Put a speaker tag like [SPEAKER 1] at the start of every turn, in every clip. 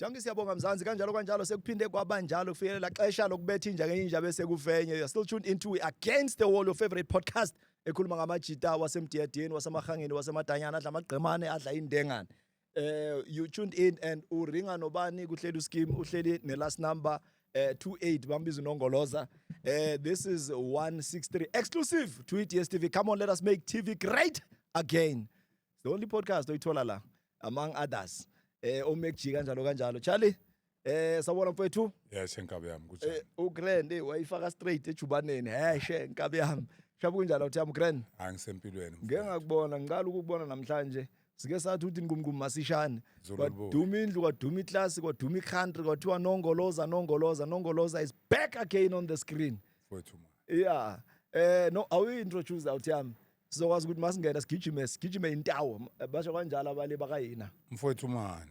[SPEAKER 1] Janki siyabonga Mzansi kanjalo kanjalo sekuphinde kwabanjalo kufikelela xesha lokubetha inja ngenye inja bese kufenye you are still tuned into against the wall your favorite podcast ekhuluma ngamajita wasemdiyadeni wasemahangeni wasemadanyana adla amagqemane adla indengane eh you tuned in and uringa nobani kuhleli uSkim uhleli ne last number eh 28 bambiza unongoloza eh this is 163 exclusive to it yes TV come on let us make TV great again the only podcast oyithola la among others eh omekjika kanjalo kanjalo Charlie Eh sawubona mfethu. Yeah shenkabe yami kunjani?
[SPEAKER 2] Eh uGrand eh, wayifaka
[SPEAKER 1] straight ejubaneni. Hey shenkabe yami. Shabu kunjani uthi yami Grand? Angisempilweni. Ngeke
[SPEAKER 2] ngakubona
[SPEAKER 1] ngiqala ukukubona namhlanje. Sike sathi uthi ngumngqumi masishane. Kwaduma indlu kwaduma iclass kwaduma icountry kwathiwa nongoloza nongoloza nongoloza is back again on the screen. Mfethu ma.
[SPEAKER 2] Yeah. Eh
[SPEAKER 1] no awu introduce out yami. Sizokwazi ukuthi masingena sigijime sigijime intawo. Basho kanjalo abale bakayina. Mfethu mani.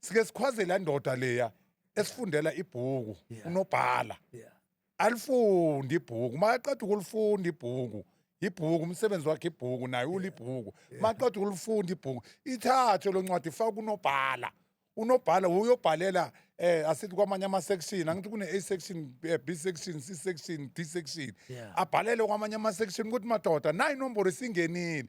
[SPEAKER 2] sike sikhwaze la ndoda leya esifundela ibhuku Yeah. unobhala yeah alifunde ibhuku makaqeda ukulifunda ibhuku ibhuku umsebenzi wakhe ibhuku naye ulibhuku maqeda ukulifunda ibhuku ithathe lo ncwadi faka kunobhala unobhala uyobhalela eh asithi kwamanye ama section angithi kune A section eh, B section C section D section Yeah. abhalele kwamanye ama section ukuthi madoda nayi inombolo isingenile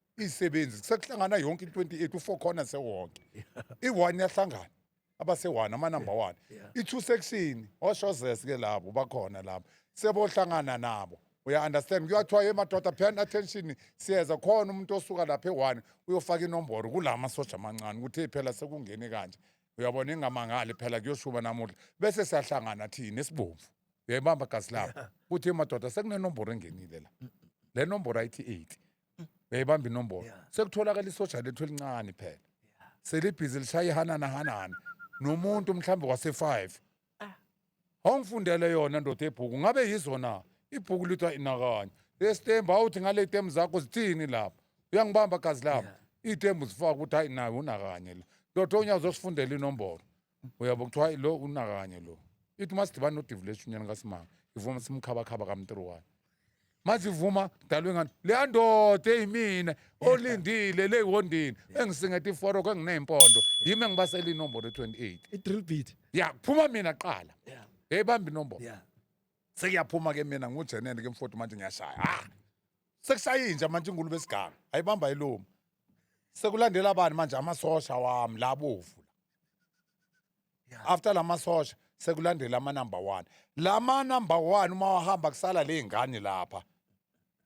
[SPEAKER 2] izisebenzi sekuhlangana yonke i-28 u-four corner sewonke i-one yahlangana abase-one amanumber one i-two section oshozes ke labo bakhona labo sebohlangana nabo uya-understand kuyathiwa ye madoda pheani attention siyeza khona umuntu osuka lapha e-one uyofaka inomboro kula masosha amancane ukuthi phela sekungene kanje uyabona ingamangali phela kuyoshuba namuhla bese siyahlangana thina esibomvu uyayibamba gazi labo kuthi madoda sekunenomboro engenile la le nomboro ayithi 8 yayibamba inombolo Yeah. sekutholakala isoja lethu elincane phela selibhizi lishaya ihanana hanana nomuntu mhlawumbe wase-five awungifundele yona ndoda ebhuku ngabe yizo na ibhuku lithiwa inakanye lesitembu awuthi ngale temu zakho zithini lapho uyangibamba gazi lami iy'tembu zifaka ukuthi hayi nawe unakanye la ndoda onyazi osifundela inombolo uyabo kuthiwa "Hayi, lo unakanye lo ithi uma sidibana nodivuleshi unyana kasimanga ivuma simkhabakhaba kamntiruwane manje ivuma dalwe ngani leya ndoda eyimina olindile leyiwondini engisingeta iforoko engineyimpondo yimi engibasela inombolo e-28 i-drill beat ya
[SPEAKER 1] kuphuma mina
[SPEAKER 2] kuqala Yeah. eyibamba inombolo yeah sekuyaphuma ke mina ngujenene ke mfoti manje ngiyashaya ha sekushaye inja manje ingulube esiganga ayibamba iluma sekulandela bani manje amasosha wami labovu after lamasosha sekulandela ama number 1 lama number 1 uma wahamba kusala lezingane lapha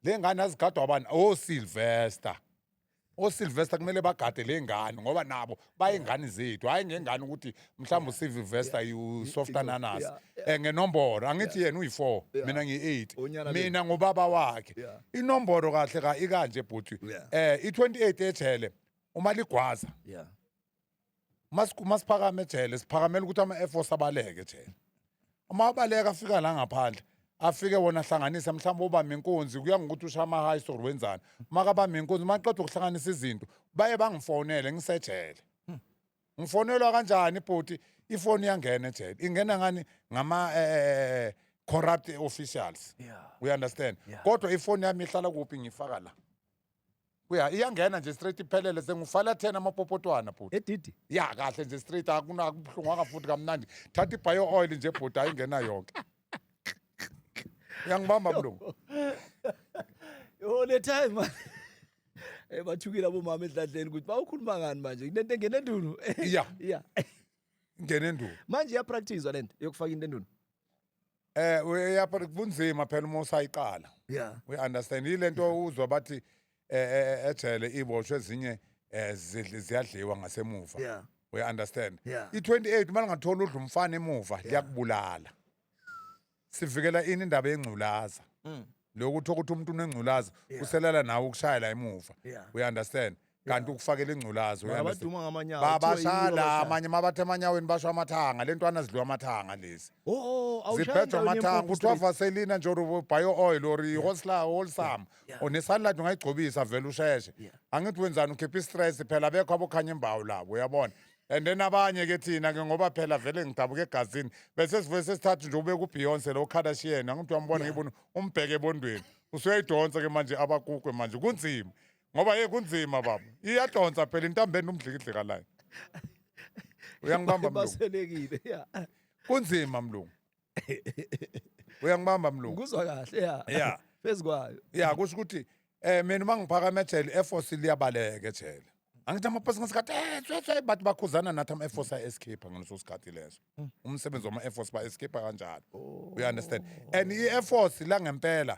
[SPEAKER 2] lezingane azigadwa bani o oh, Sylvester o oh, Sylvester kumele bagade lezingane ngoba nabo bayingane zethu hayi ngengane ukuthi mhlawumbe usive vesta usoft ananas Yeah, yeah. Eh, ngenomboro angithi yena uyi-four Yeah. mina ngiyi-eight Unyana le. mina ngubaba wakhe Yeah. inomboro kahle ka ikanje bhuti Yeah. eh i-28 ejele uma ligwaza yeah uma siku- uma siphakame ejele siphakamela ukuthi ama-air force abaleke ejele uma abaleka afika la ngaphandle afike wona ahlanganise mhlawumbe obama inkunzi kuya ngokuthi ushama high story wenzani makabamba inkunzi maqeda ukuhlanganisa izinto baye bangifonele ngisejele hmm. ngifonelwa kanjani bhuti ifoni iyangena ejele ingena ngani ngama eh corrupt officials yeah. we understand yeah. kodwa ifoni yami ihlala kuphi ngifaka la Uya iyangena nje straight iphelele sengufala thena amapopotwana bhuti. Edidi. Ya kahle
[SPEAKER 1] nje straight
[SPEAKER 2] akuna kubuhlungwanga futhi kamnandi. Thatha ibio oil nje bhuti ayingena yonke. Uyangibamba mlungu.
[SPEAKER 1] Yo le time man. Eh bathukile abomama edladleni ukuthi bawukhuluma ngani manje. Kunento engena endunu. Ya. Ya. Ngene
[SPEAKER 2] nduku. Manje iya practice
[SPEAKER 1] lento yokufaka into endunu. Eh
[SPEAKER 2] uyapha kunzima phela uma usayiqala. Yeah. We understand
[SPEAKER 1] ilento
[SPEAKER 2] uzwa bathi eh, eh, eh ejele iboshwe ezinye eh, zidli- ziyadliwa ngasemuva. Yeah. We
[SPEAKER 1] understand.
[SPEAKER 2] Yeah. I28 uma
[SPEAKER 1] lingathola
[SPEAKER 2] udla umfana emuva liyakubulala. Sivikela ini indaba yengculaza. lokhu uthola ukuthi umuntu unengculaza Yeah. uselela nawe ukushayela emuva Yeah. we understand kanti ukufakela ingculaza we Mara understand. baduma ngamanyawo. Ba- kuthiwa yini
[SPEAKER 1] bashala abashaya? amanye
[SPEAKER 2] uma bathe emanyaweni basho amathanga le ntwana zidliwa amathanga lezi Oh, oh, awushaya ziphethwa endaweni amathanga yempuphu kuthiwa straight. vaselina nje or bio oil or ihosla holsam Yeah. or nesalad ungayigcobisa vele usheshe Yeah. angithi wenzani ukhipha istress phela bekho abokhanya imbawu labo uyabona and then abanye ke thina ke ngoba phela vele ngidabuka egazini bese sivuye sesithatha nje ubeka ubeyonce lo kardashian angithi wambona ngibona umbheke ebondweni usuyayidonsa ke manje abakukwe manje kunzima ngoba ye kunzima baba iyadonsa phela intambeni umdlikidlika layo uyangibamba mlungu baselekile ya
[SPEAKER 1] kunzima
[SPEAKER 2] mlungu uyangibamba mlungu ngikuzwa kahle ya
[SPEAKER 1] Yeah. phezu kwayo
[SPEAKER 2] ya
[SPEAKER 1] kusho ukuthi
[SPEAKER 2] um mina uma ngiphakama ejele i-airforce liyabaleka ejele angithi amapasi ngesikhathi "Eh, tswe, tswe," bathi bakhuzana nathi ama-airforce a-escape ngaleso sikhathi leso umsebenzi wama-airforce ba-escape kanjalo you understand and i-airforce langempela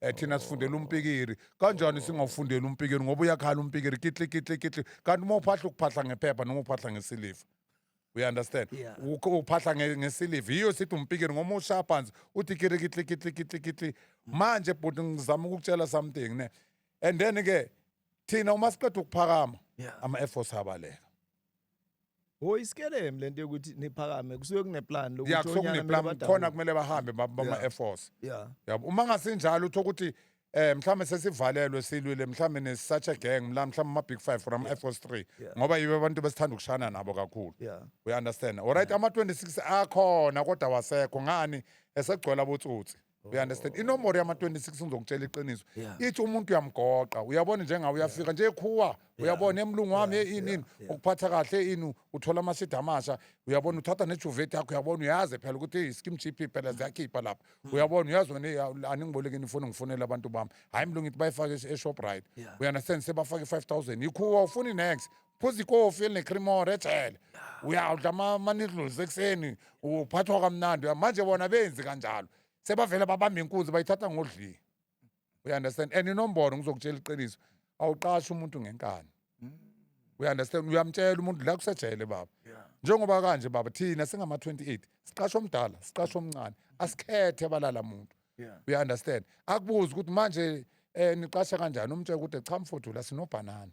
[SPEAKER 2] Eh thina sifundela umpikiri. Kanjani singawufundela umpikiri ngoba uyakhala umpikiri kitli kitli kitli. Kanti uma uphahla ukuphahla ngephepha noma uphahla ngesiliva. We understand? Yeah. Ukho- Uphahla nge- ngesiliva. Yiyo sithi umpikiri ngoba ushaya phansi uthi kiri kitli kitli kitli kitli. Manje bhuti ngizama ukukutshela something ne. And then ke thina uma siqeda ukuphakama Yeah. ama Air Force abaleka. Ho isikelemu
[SPEAKER 1] lento yokuthi niphakame kusuke kuneplan lokuthi ya kusuke onyana kumele kuneplan badabule.
[SPEAKER 2] khona kumele bahambe ba- bama Yeah. air force Yeah. yabo uma ngasinjalo uthola ukuthi eh mhlawumbe sesivalelwe silwile mhlawumbe ne-such a gang mla mhlawumbe ama-big five or ama-air force three Yeah. ngoba yibo abantu besithanda ukushana nabo kakhulu Yeah. uyaunderstand olright ama-26 akhona kodwa wasekho ngani esegcwele abotsotsi you understand inomboro yama-26 ngizokutshela iqiniso Yeah. ithi umuntu uyamgoqa uyabona njengawe uyafika nje ekhuwa uyabona emlungu wami Yeah, inini yeah, yeah. ukuphatha kahle ini uthola amasida amasha uyabona uthatha nejuvet yakho uyabona uyazi phela ukuthi i-skim gp phela ziyakhipha lapha Mm. uyabona uyazi wena "Ya, aningibolekeni ifoni ngifonele abantu bami hhayi mlungu ithi bayifake e-shoprite Yeah. uyandestand sebafake i-5 000 yikhuwa ufuni next phuza ikofi elinecremore ejele uyawudla ama- amanidluls ekuseni uphathwa kamnandi uya- manje bona benzi kanjalo sebavele babamba inkunzi bayithatha ngodli you understand and inombolo ngizokutshela iqiniso awuqashi umuntu ngenkani you understand uyamtshela umuntu la kusejele baba njengoba kanje baba thina singama-28 siqasha omdala siqasha omncane asikhethe balala muntu you understand akubuze ukuthi manje um niqasha kanjani umtshela ukuthi cha mfuthu la sinobhanana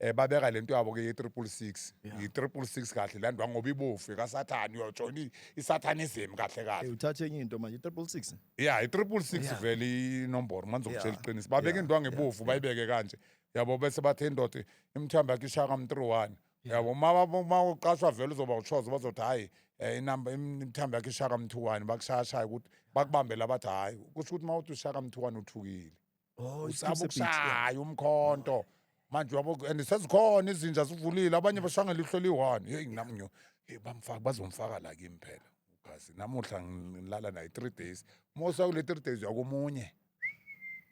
[SPEAKER 2] eh babeka lento yabo ke ye 666 yi 666 kahle landwa ngoba ibofu ka Satan yo join i Satanism kahle kahle Eh, uthathe enye into manje
[SPEAKER 1] 666 yeah i 666
[SPEAKER 2] vele inomboro manje ukutshela Yeah. iqiniso babeka Yeah. indwangu ebofu bayibeke kanje yabo bese bathe indoda imthamba yakhe ishaka mu 31 yabo uma uma uqashwa vele uzoba uchozo bazothi hayi eh, inamba im- imthamba yakhe ishaka mu 21 bakushaya shaya ukuthi bakubambela bathi hayi kusho ukuthi uma uthi ushaka mu 21 uthukile Oh, usaba iCliffs Beach, yeah. ukushaya umkhonto manje yabo and sezikhona izinja zivulile abanye bashanga lihlo liyi-one yeyi nami ngiyo hey bamfaka bazomfaka la kimi phela ugazi namuhla ngi- ngilala naye three days mosa kule three days uyakomunye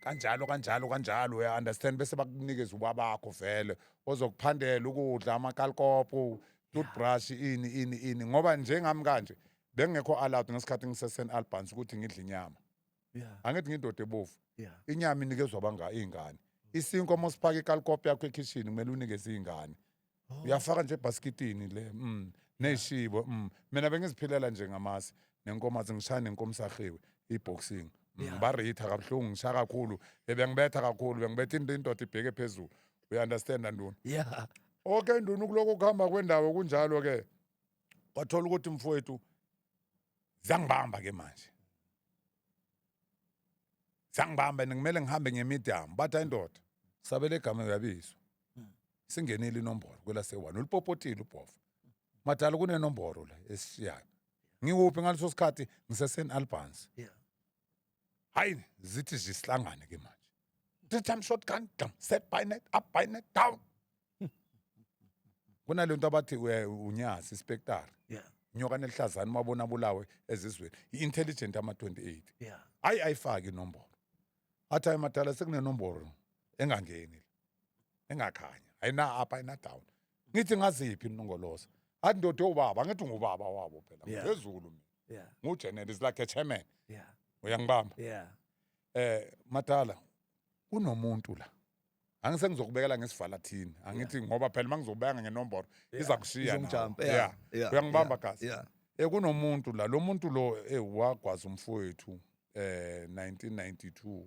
[SPEAKER 2] kanjalo kanjalo kanjalo uya-understand bese bakunikeza uba bakho vele ozokuphandela ukudla amakalikopo toothbrush ini ini ini ngoba njengami kanje bengekho allowed ngesikhathi ngisesen-albans ukuthi ngidle inyama Yeah. angithi ngindoda ebovu Yeah. inyama inikezwa banga iy'ngane isinkwa uma usifaka ikalikopi yakho ekhishini kumele unikeze iy'ngane Oh. uyafaka nje ebhasikitini le mm. ney'shibo mm. mina bengiziphilela nje ngamasi nenkomazi ngishaya nenkomisahiwe i-boxing mm. Yeah. baritha kabuhlungu ngishaya kakhulu ebengibetha kakhulu bengibetha into indoda ibheke phezulu uyi-understanda nduna Yeah. okay nduna ukulokhu ukuhamba kwendawo kunjalo-ke wathola ukuthi mfowethu zangibamba ke manje zangibamba and kumele ngihambe ngemidamu bathi ayindoda sabele egama uyabizwa singenile inombolo kwelasewane ulipopotile ubhofa madala kunenombolo la esishiyayo ngikuphi ngaleso sikhathi ngiseseni albans Yeah. hayi zithi zisihlangane ke manje three time shotgun dam set by net up by net down kunale nto abathi eh, unyazi ispektari yeah nyoka nelihlazana uma bona bulawe ezizweni i-intelligent ama-28 yeah ayi ayifaki inombolo athi ayi madala sekunenombolo engangeni engakhanya ayina up ayina down ngithi ngaziphi inongoloza athi ndoda ewubaba ngithi ngubaba wabo phela Yeah. ngizezulu mina yeah ngujenel is like a chairman yeah uyangibamba yeah eh madala kunomuntu la angise ngizokubekela ngesivala thini angithi ngoba phela uma ngizokubeka ngenombolo iza kushiya nawe. Izongijump, yeah, Yeah. yeah, uyangibamba yeah, gazi yeah. Eh kunomuntu la lo muntu lo eh wagwaza umfowethu eh 1992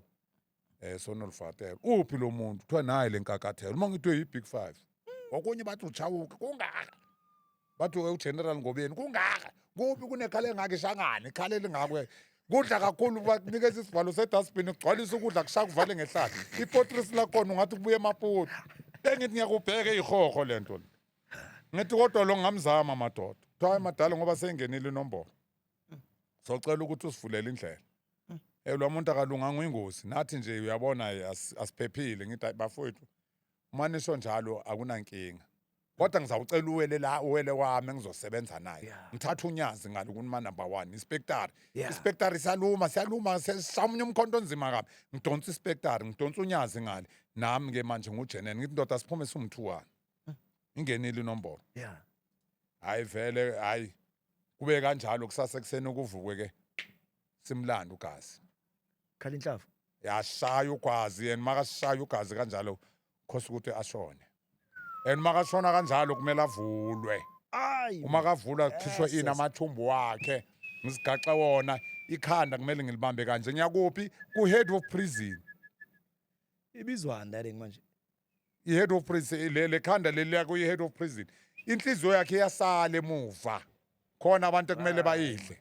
[SPEAKER 2] eh sonolfatela uphi lo muntu kuthiwa naye lenkakathelo uma ngithiwe yi big 5 okunye bathi uchawuke kungaka bathi we ugeneral ngobeni kungaka kuphi kunekhala engaka ishangane ikhala elingakwe kudla kakhulu bakunikeza isivalo sedustbin ugcwalisa ukudla kushaya kuvale ngehlala ipotress lakhona ungathi kubuye emaputi bengithi ngiyakubheka iyihoho le nto le ngithi kodwa lo ngamzama madoda kuthiwa hayi madala ngoba seyingenile inombolo socela ukuthi usivulele indlela elwa muntu akalunganga uyingozi nathi nje uyabona eh, as- asiphephile ngithi hayi bafowethu uma nisho njalo akunankinga kodwa ngizawucela uwele la uwele wami engizosebenza naye Yeah. ngithatha unyazi ngalo kunima number one inspectari Yeah. inspectari siyaluma siyaluma seshamunye umkhonto onzima kabi ngidonsa inspectari ngidonsa unyazi ngale nami ke manje ngujenene ngithi ndoda siphume siwumthuwana ingenile inombolo Yeah. hayi vele hayi kube kanjalo kusasa ekuseni kuvukwe ke simlanda ugazi khala inhlavu
[SPEAKER 1] yashaya
[SPEAKER 2] ugazi and makashaya ugazi kanjalo khosa ukuthi ashone and makashona kanjalo kumele avulwe ayi uma kavula khishwe Yes, ini yes. amathumbu wakhe ngisigaxe wona ikhanda kumele ngilibambe kanje ngiyakuphi ku-head of prison
[SPEAKER 1] ibizwani that manje i-head of
[SPEAKER 2] prison le khanda leli lako i-head of prison inhliziyo yakhe iyasala emuva khona abantu ekumele bayidle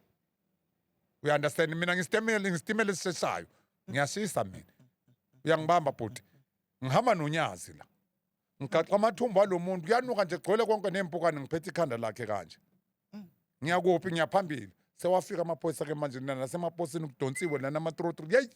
[SPEAKER 2] uya understand mina ngisitemele ngisitimele esisheshayo ngiyashisa mina uyangibamba bhuti ngihamba nonyazi la ngigaxa amathumbu alo muntu kuyanuka nje gcwele konke nempukane ngiphethe ikhanda lakhe kanje mm. ngiyakuphi ngiyaphambili sewafika amaphoyisa ke manje nasemaposini kudonsiwe lana amatrotro yeyi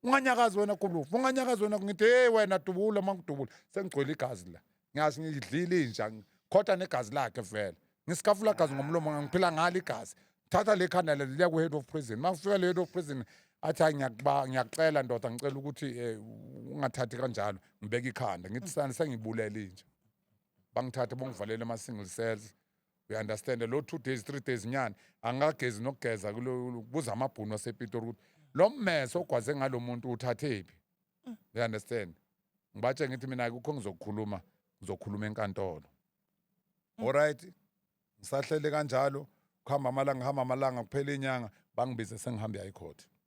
[SPEAKER 2] unganyakazi wena gulufu unganyakazi wena ngithi hey wena dubula uma ngidubula sengigcwele igazi la ngiyazi ngidlile inja khotha negazi lakhe vele ngisikafula gazi ngomlomo ngiphila ngalo igazi thatha le khanda lelo liya ku-head of prison uma kufika le-head of prison athi hayi ngiyakucela ndoda ngicela ukuthi eh, ungathathi kanjalo ngibeke ikhanda ngithi sani sengibulele inja bangithathe bongivalele ama-single cells you understand lo two days three days nyana angagezi nokugeza kulo- kuza amabhunu asepitori ukuthi lo mmese ogwaze ngalo muntu uthathephi you understand ngibatshe ngithi mina kukho ngizokukhuluma ngizokhuluma enkantolo alright ngisahlele kanjalo kuhamba amalanga ngihamba amalanga kuphela inyanga bangibize sengihambe yayikhoti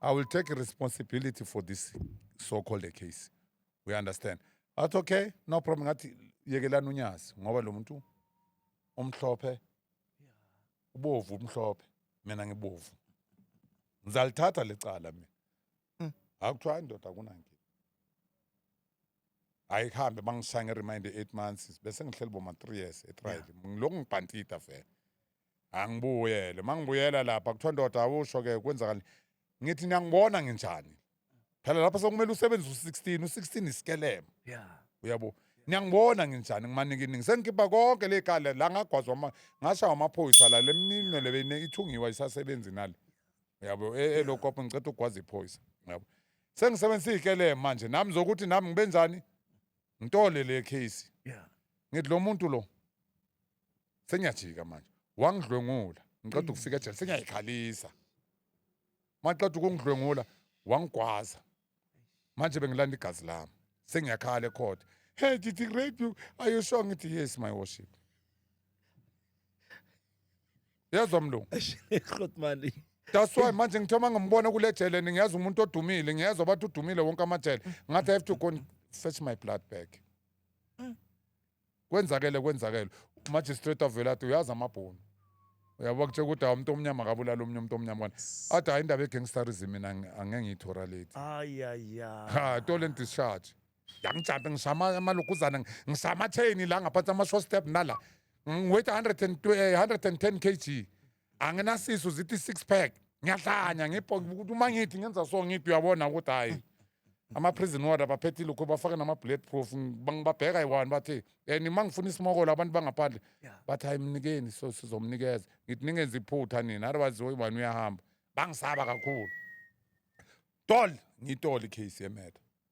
[SPEAKER 2] I will take responsibility for this so-called case. We understand. Athi okay, no problem ngathi yekelani unyazi ngoba lo muntu omhlophe ubovu umhlophe mina ngibovu. Ngizalithatha lecala mina. Mm. Akuthiwa indoda kunankinga. Ayihambe bangishaya nge-remind 8 months bese ngihleli boma 3 years etrial. Ngilokhu ngibhantida vele. angibuyele mangibuyela lapha kuthiwa ndoda awusho ke kwenzakala ngithi niyangibona nginjani phela lapha sekumele usebenze u-16 u-16 isikelema yeah uyabo niyangibona nginjani ngimanikiningi sengikhipha konke le kale la ngagwazwa ama- ngashawa amaphoyisa la lemninwe le beyine ithungiwa isasebenzi nale uyabo e- elokopo ngiceda ukugwaza iphoyisa uyabo sengisebenzisa ikelema manje nami zokuthi nami ngibenjani ngitole le case yeah ngithi lo muntu lo senyajika manje wangidlwengula ngiqeda mm. ukufika ejele senyayikhalisa maqeda ukungidlwengula wangigwaza manje bengilanda igazi lami sengiyakhala ekhotha hey did he rape you are you sure ngithi yes my worship yezwa mlungu Grot mali.
[SPEAKER 1] that's why
[SPEAKER 2] manje ngithe uma ngimbona kule jele ngiyazi umuntu odumile ngiyezwa bathi udumile wonke amajele ngathi i have to go and fetch my blood back kwenzakele kwenzakele umagistrate avele athi uyazi amabhunu uyabo kutshela ukuthi hawu umuntu omnyama akabulala omunye umuntu omnyama kwana athi hayi indaba yegangsterism mina angi- angeke ngiyithoralate Ay ay ay. ha tole ndischarge yangijanta ngishama amaluguzana ngishama atheni la ngaphansi ama-short step nala ngiweight 110 kg anginasisu zithi i-six pack ngiyahlanya ngibhokuthi uma ngithi ngenza so ngithi uyabona ukuthi hhayi ama-prison ward abaphethi lokhu bafake nama-bullet proof bangibabheka yi-one bathi um uma ngifuna isimokolo abantu bangaphandle bathi hayi mnikeni so sizomnikeza ngithi ningenza iphutha nina otherwise oyi-one uyahamba bangisaba kakhulu tol ngiyitole i-case yemedo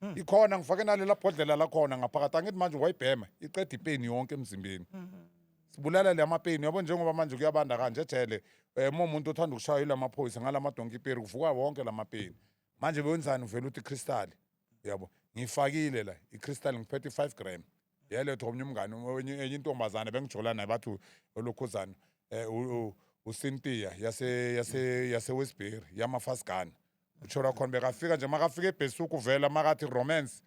[SPEAKER 2] Hmm. ikhona ngifake nalela bhodlela lakhona ngaphakathi angithi manje wayibhema iqeda ipeni yonke emzimbeni hmm. sibulala le amapeni yabo njengoba manje kuyabanda kanje ejele um eh, momuntu othanda ukushaywa ila maphoyisa ngala madonki iperi kuvuka wonke la mapeni manje bewenzani uvela uthi ikristali yabo ngiyifakile la ikristali ngiphethe i-five gram yalethwa omnye umngane enye intombazane bengijola naye bathi olokhuzana um eh, usintiya yase-westbury yamafasigana utsho lwakhona bekafika nje makafika ebhesuk uvela makathi romance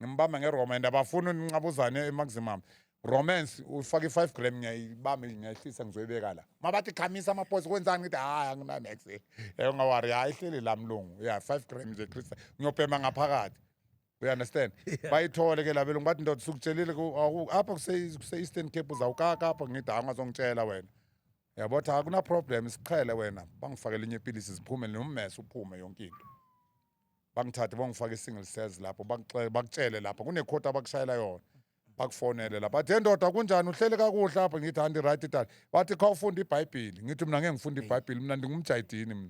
[SPEAKER 2] ngimbamba ngeroma and abafuni uninqabuzane emaximum romance ufake i-five gram ngiyayibambe ngiyayihlisa ngizoyibeka la mabathi khamisa amaposi kwenzani ngithi hayi anginamax ungawari hayi ihleli la mlungu ya five gram nje christa ngiyobhema ngaphakathi you understand bayithole ke labelungu bathi ndoda sukutshelile ku- awu- apha kuse- kuse-eastern cape uzawukaka apha ngithi hayi ungazongitshela wena yabo cha akuna problem siqhele wena bangifakele inye ipilisi ziphume nommese uphume yonke into bangithathe bangifake i-single cells lapho bakuxe- bakutshele lapha kunekhoti abakushayela yona bakufonele lapha athe ndoda kunjani uhlele kakuhle apha ngithi anti-right dad bathi khawufunda ibhayibhili ngithi mina ngeke ngifunda ibhayibhili mina ndingumjayidini mina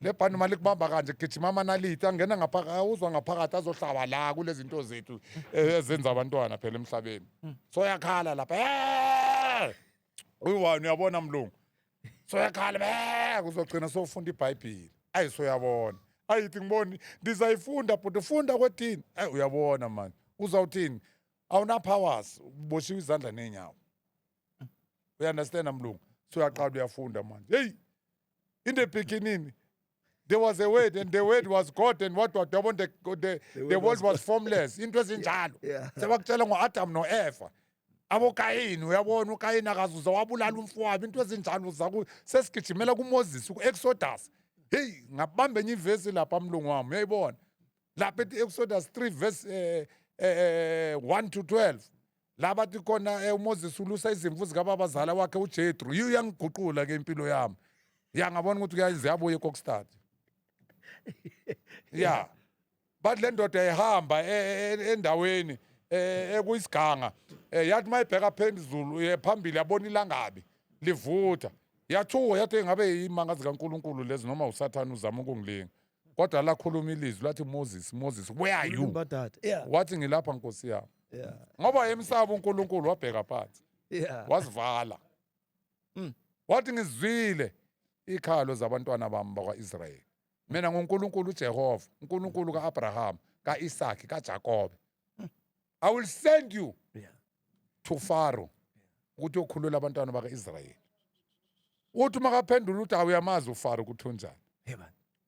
[SPEAKER 2] le bhandi uma likubamba kanje kugijima amanaliti angena ngaphakathi awuzwa ngaphakathi azohlaba la kulezi zinto zethu eh, ezenza abantwana phela emhlabeni so yakhala lapha "Eh!" uyi-one uyabona mlungu so yakhala "Eh!" kuzogcina sofunda ibhayibhile ayi so uyabona ayithi ngiboni ndizayifunda bhuti funda kwethini ayi uyabona mani uzawuthini awunapowers uboshiwe izandla neenyawo uyandastand mlungu so uyaqala uyafunda manje heyi In the beginning, there was a word and the word was God and what was double the, the, the, the word, word was formless. Into ezinjalo. Yeah. Sebakutshela ngo-Adam no-Eva. abokayini uyabona ukayini akazuza wabulala umfowabo into ezinjalo zaku sesigijimela kumoses ku-exodus heyi ngabamba enye ivesi lapha mlungu wami uyayibona lapha ethi exodus 3 verse um eh, um eh, 1 eh, to 12 la bathi khona um eh, umoses ulusa izimvu zikababazala wakhe ujetru yiyo uyangiguqula ke impilo yami ya ngabona ukuthi ziyabuya ekokstad ya bathi le ndoda ihamba e, e, e, endaweni ekuyisiganga yathi uma ibheka phezulu phambili yabona ilangabi livutha yathuka yathi ngabe yimanga zikankulunkulu lezi noma usathane uzama ukungilinga kodwa lakhuluma ilizwi lathi moses moses where are you Ulimba dada. Yeah. wathi
[SPEAKER 1] ngilapha nkosi
[SPEAKER 2] yami Yeah. ngoba
[SPEAKER 1] wayemsaba
[SPEAKER 2] unkulunkulu wabheka phansi Yeah. wazivala Mm. wathi ngizwile ikhalo zabantwana bami bakwa-israyeli mina ngunkulunkulu ujehova unkulunkulu ka-abrahama ka-isaki kajakobe i will send you yeah. to faro ukuthi okhulula abantwana baka-israyeli uthi uma kaphendula ukuthi awuyamazi ufaro ukuthi unjani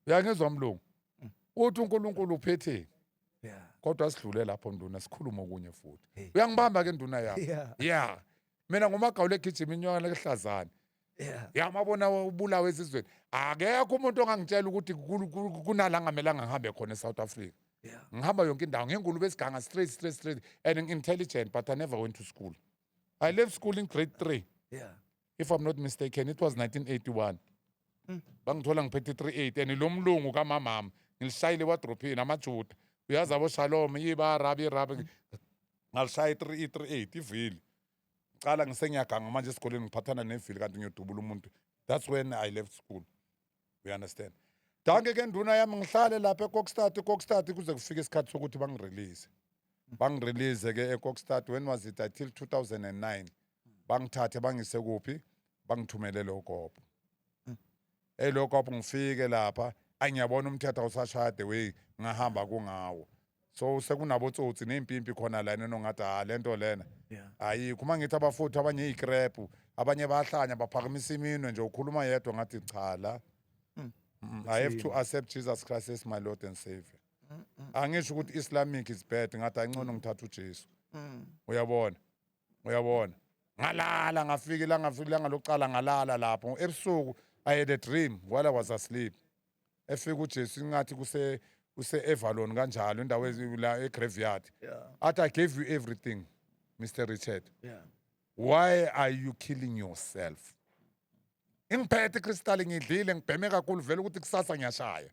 [SPEAKER 2] uyangizwa mlungu mm. uthi unkulunkulu uphetheni kodwa sidlule lapho nduna sikhulume okunye futhi uyangibamba ke nduna yakho ya mina ngumagawula egijima inyokana kuhlazane ya mabona ubulawa ezizweni akekho umuntu ongangitshela ukuthi kunala ngamelanga ngihambe khona e-south africa ngihamba yonke indawo ngengulube esiganga straight straight straight and intelligent but i never went to school i left school in grade three yeah. if i'm not mistaken it was 1981 mm. bangithola ngiphethe 38 and lo mlungu kamamama ngilishayile ewadrophini amajuda uyazi aboshalom yibarabi irabi ngalishaya i-3 i-38 ivili cala ngisengiyaganga manje esikoleni ngiphathana nevili kanti ngiyodubula umuntu that's when i left school you understand danke ke nduna yami ngihlale lapha ekokstad ekokstad kuze kufike isikhathi sokuthi bangirelease bangirelease ke ekokstad when was it until 2009 bangithathe bangise kuphi bangithumelele ugobo eyi lokho apho ngifike lapha ayi ngiyabona umthetho awusashaya the way ngahamba kungawo so sekunabotsotsi ney'mpimpi khona lana enongathi ha le nto lena Yeah. ayikho uma ngithi abafowethu abanye yiy'krebhu abanye bayahlanya baphakamisa iminwe nje ukhuluma yedwa ngathi cha la Mm. Mm, i have to accept jesus christ as my lord and savior angisho ukuthi islamic is bad ngathi ayincono ngithatha ujesu Mm. uyabona uyabona ngalala ngafika ilanga ngafika ilanga lokuqala ngalala lapho ebusuku i had a dream while i was asleep efika ujesu ingathi kuse kuse-evalon kanjalo indawo ezi- la egraveyard Yeah. athi i gave you everything mr richard Yeah. why are you killing yourself ingiphethe ikristali ngidlile ngibheme kakhulu vele ukuthi kusasa ngiyashaya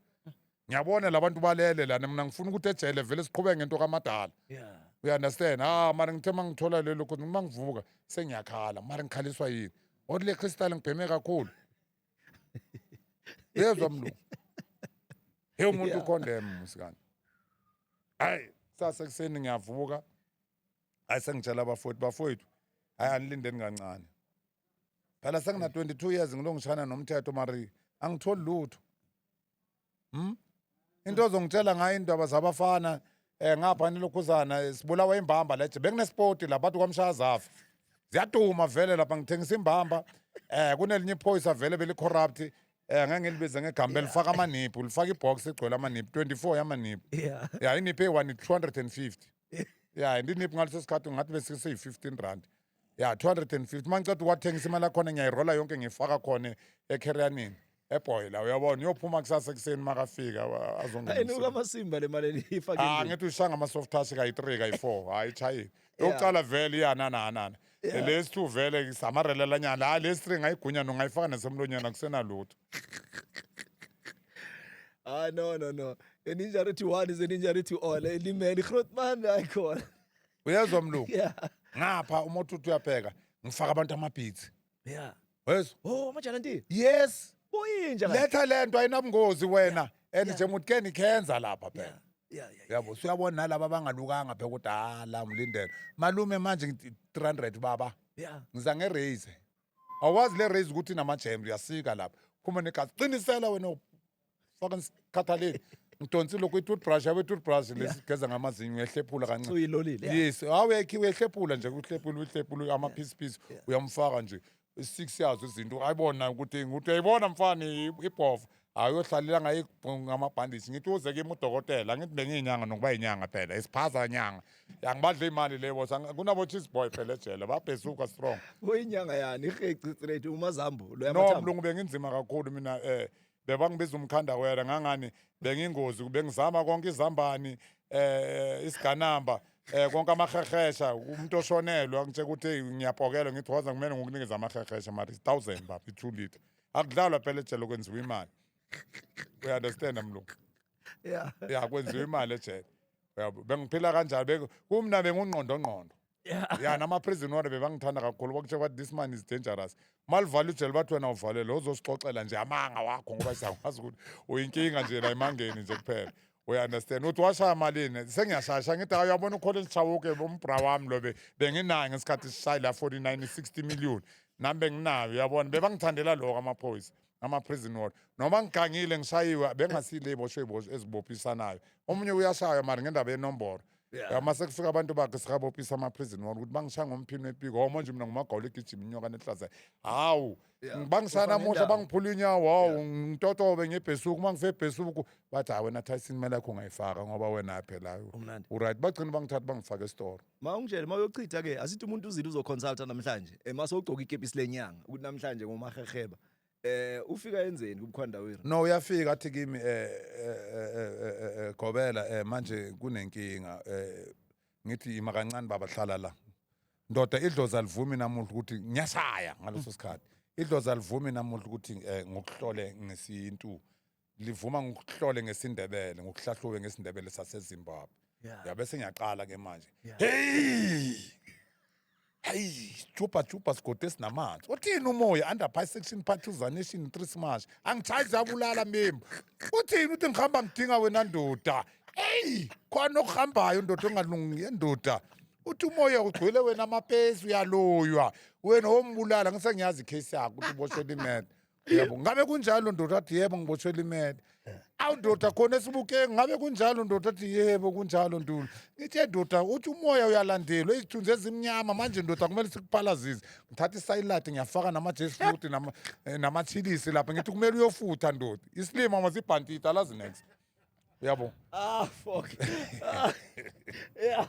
[SPEAKER 2] ngiyabona labantu balele lana mina ngifuna ukuthi ejele vele siqhubeke ngento kamadala yeah you understand ah mara ngithe uma ngithola lelo khona uma ngivuka sengiyakhala mara ngikhaliswa yini othi le crystal ngibheme kakhulu yezwa mlungu he umuntu ukhondem musikani hayi sase kuseni ngiyavuka hayi sengitshela abafowethu bafowethu hayi anilindeni kancane phela sengina 22 years ngilongishana nomthetho mari angitholi lutho hm into ozongitshela ngayo indaba zabafana eh ngapha nilokhuzana eh, sibulawa imbamba leje benginesport la bathi kwamshazafa ziyaduma vele lapha ngithengisa imbamba eh kunelinye iphoyisa vele belicorrupt eh ngeke ngilibize ngegama lifaka amaniphu lifaka ibox egcwele amaniphu 24 yamaniphu yeah ya iniphi eyi-one 250 ya ndiniphi ngaleso sikhathi ngathi besise-15 rand ya 250 uma ngiceda uwathengisa imali yakhona ngiyayirola yonke ngiyifaka khona ekhereyanini ebhoyi la uyabona uyophuma kusasa ekuseni makafika wa- azongenisa. enuka amasimba le
[SPEAKER 1] mali eliyifake Ah endlini. ngithi ushanga ama soft
[SPEAKER 2] touch kayi 3 kayi 4 hayi chayile. Yeah. Yokuqala vele iyana na na. Yeah. Lesi two vele isamarela nyana. Hayi lesi three ngayigunya no ngayifaka nasemlonyeni akusena lutho.
[SPEAKER 1] hayi no no no eninjarity one is eninjarity all elimele igrotman ayikhona uyezwa mlungu
[SPEAKER 2] yeah ngapha uma uthi uthi uyabheka ngifaka abantu amabhithi yeah wezwa oh amajalanti
[SPEAKER 1] yes
[SPEAKER 2] kuyinja kahle. letha
[SPEAKER 1] le nto
[SPEAKER 2] ayinabungozi wena and yeah. nje muthi ke nikhenza lapha phela yeah yeah yeah yabo suyabona nalaba abangalukanga phela ukuthi hala ngilindele malume manje ngithi 300 baba yeah ngiza nge-raise awazi le raise ukuthi inama-jams uyasika lapha phuma negazi qinisela wena faka ngikhathalele ngidonsi lokhu i-toothbrush yabe i-toothbrush lesigeza ngamazinyo uyahlephula kancane uyilolile yeah. yes
[SPEAKER 1] awekhi
[SPEAKER 2] uyahlephula nje uhlephula uhlephula ama-piece piece uyamfaka nje i-six yazo izinto ayibona ukuthi ukuthi uyayibona mfana i- ibhova hayi uyohlalela ngayo ngamabhandishi ngithi uze kimi udokotela ngithi bengiyinyanga nokuba yinyanga phela isiphaza nyanga angibadle imali le boss Ang- kunabo-cheese boy phela ejele babhezuka strong uyinyanga yani
[SPEAKER 1] iheci straight umazambu lo no yamathambo mlungu benginzima
[SPEAKER 2] kakhulu mina eh bebangibiza umkhanda wera ngangani bengingozi bengizama konke izambani eh isiganamba eh konke amahehesha umuntu oshonelwe angitshela ukuthi hey, ngiyapokelwa ngithi waza kumele ngokunikeza amahehesha mari 1000 baba 2 liter akudlalwa phela ejele kwenziwa imali we understand mlungu yeah ya kwenziwa imali ejele uyabo bengiphila kanjalo Beng- kumna bengungqondongqondo Yeah. ya namaprison ward bebangithanda kakhulu bakutshela ukuthi this man is dangerous malivala ujele bathi wena uvalele uzosixoxela nje amanga wakho ngoba siyakwazi ukuthi uyinkinga nje la emangeni nje kuphela uyaunderstand uthi washaya malini sengiyashasha ngithi hayi uyabona ukhona elishawuke umbra wami lo be- benginayo ngesikhathi sishayi la 49 60 million nami benginayo uyabona bebangithandela lokho amaphoyisa ama-prison ward noma ngigangile ngishayiwe bengasiyile iboshwe ibosho ezibophisanayo omunye uyashaywa mari ngendaba yenomboro Yeah. uma sekufika abantu bakhe sikabophisa ama-prison wona ukuthi bangishaya ngomphini wepiko hawu manje mina ngumagawula egijima inyoka nehlaza hawu Yeah. ng- bangishaya Ufana namuhla nendawo. bangiphula inyawo hawu ngitotobe ngebhesuku uma ngife ebhesuku bathi hayi wena tyson imali yakho ungayifaka ngoba wena phela Umnandi. uright bagcina bangithatha bangifake esitoro Ma ungitshele ma uyochitha
[SPEAKER 1] ke asithi umuntu uzile uzoconsulta namhlanje. Ema sogcoka ikepisi lenyanga ukuthi namhlanje ngomaheheba. eh ufika enzeni kumkhwandawira no uyafika athi
[SPEAKER 2] kimi eh, eh, eh, eh, eh, eh, gobela eh, manje kunenkinga eh, ngithi ima kancane baba hlala la ndoda idlozi alivumi namuhla ukuthi ngiyashaya ngaleso sikhathi idlozi alivumi namuhla ukuthi eh, ngokuhlole ngesintu livuma ngikuhlole ngesindebele ngikuhlahlube ngesindebele sasezimbabwe yeah. yabe sengiyaqala ke manje yeah. hey hayi juba juba sigode sinamanzi uthini umoya under pie section part two zanation three smash angichayi zabulala mimi uthini uthi ngihamba ngidinga wena ndoda eyi khona okuhambayo ndoda ongalungi ndoda uthi umoya ugcwele wena amapesi uyaloywa wena wombulala ngisengiyazi icase yakho ukuthi uboshela imeda yebo ngabe kunjalo ndoda athi yebo ngiboshwela imele awu ndoda khona esibukeki ngabe kunjalo ndoda athi yebo kunjalo ntuli ngithe ndoda uthi umoya uyalandelwa izithunzi ezimnyama manje ndoda kumele sikuphalazise ngithatha isayilati ngiyafaka namajesi futhi nama- eh, namathilisi lapha ngithi kumele uyofutha ndoda isilima masibhantita alazi next uyabo ah fuck ah,
[SPEAKER 1] yeah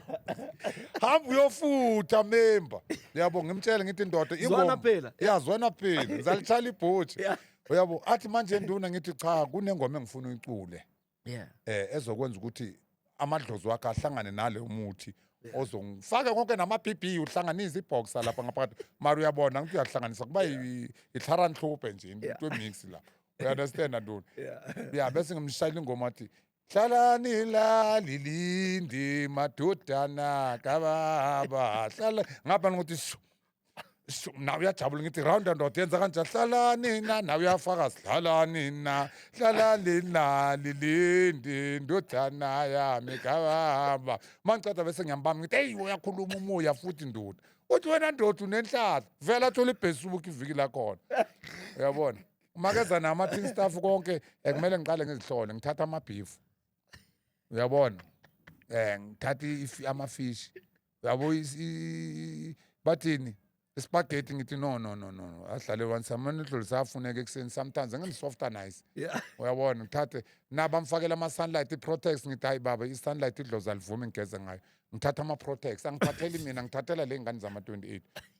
[SPEAKER 2] hamba uyofutha member uyabo ngimtshele ngithi indoda ingoma phela
[SPEAKER 1] yazwana phela
[SPEAKER 2] ngizalithala ibhothi uyabo athi manje nduna ngithi cha kunengoma engifuna uyicule yeah eh ezokwenza ukuthi amadlozi wakhe ahlangane nale umuthi ozongifake konke nama-bb uhlanganise iboxa lapha ngaphakathi mari uyabona ngithi uyahlanganisa kuba itlharanhlobhe nje into emix lapha uyaunderstand antoni ya bese ngimshayela ingoma athi hlalani la lilindi madodana kababa hlala ngapha ngokuthi shu shu nawe uyajabula ngithi round and round yenza kanje hlalani na nawe uyafakazi hlalani na hlalani na lilindi ndodana yami kababa uma ngiceda bese ngiyambamba ngithi eyi uyakhuluma umoya futhi ndoda uthi wena ndoda unenhlala vele athole ibhesibuka iviki lakhona uyabona makeza nama tin staff konke eh, kumele ngiqale ngizihlole ngithatha ama beef uyabona eh ngithatha ifi- ama fish yabo is- i- bathini spaghetti ngithi no no no no no. ahlale one samane dlulisa afuneke ekuseni sometimes ngani softer nice Yeah. uyabona ngithathe naba mfakela ama sunlight i protex ngithi hayi baba i sunlight idlozi alivumi ngigeze ngayo ngithatha ama protex angiphatheli mina ngithathela le ngane zama 28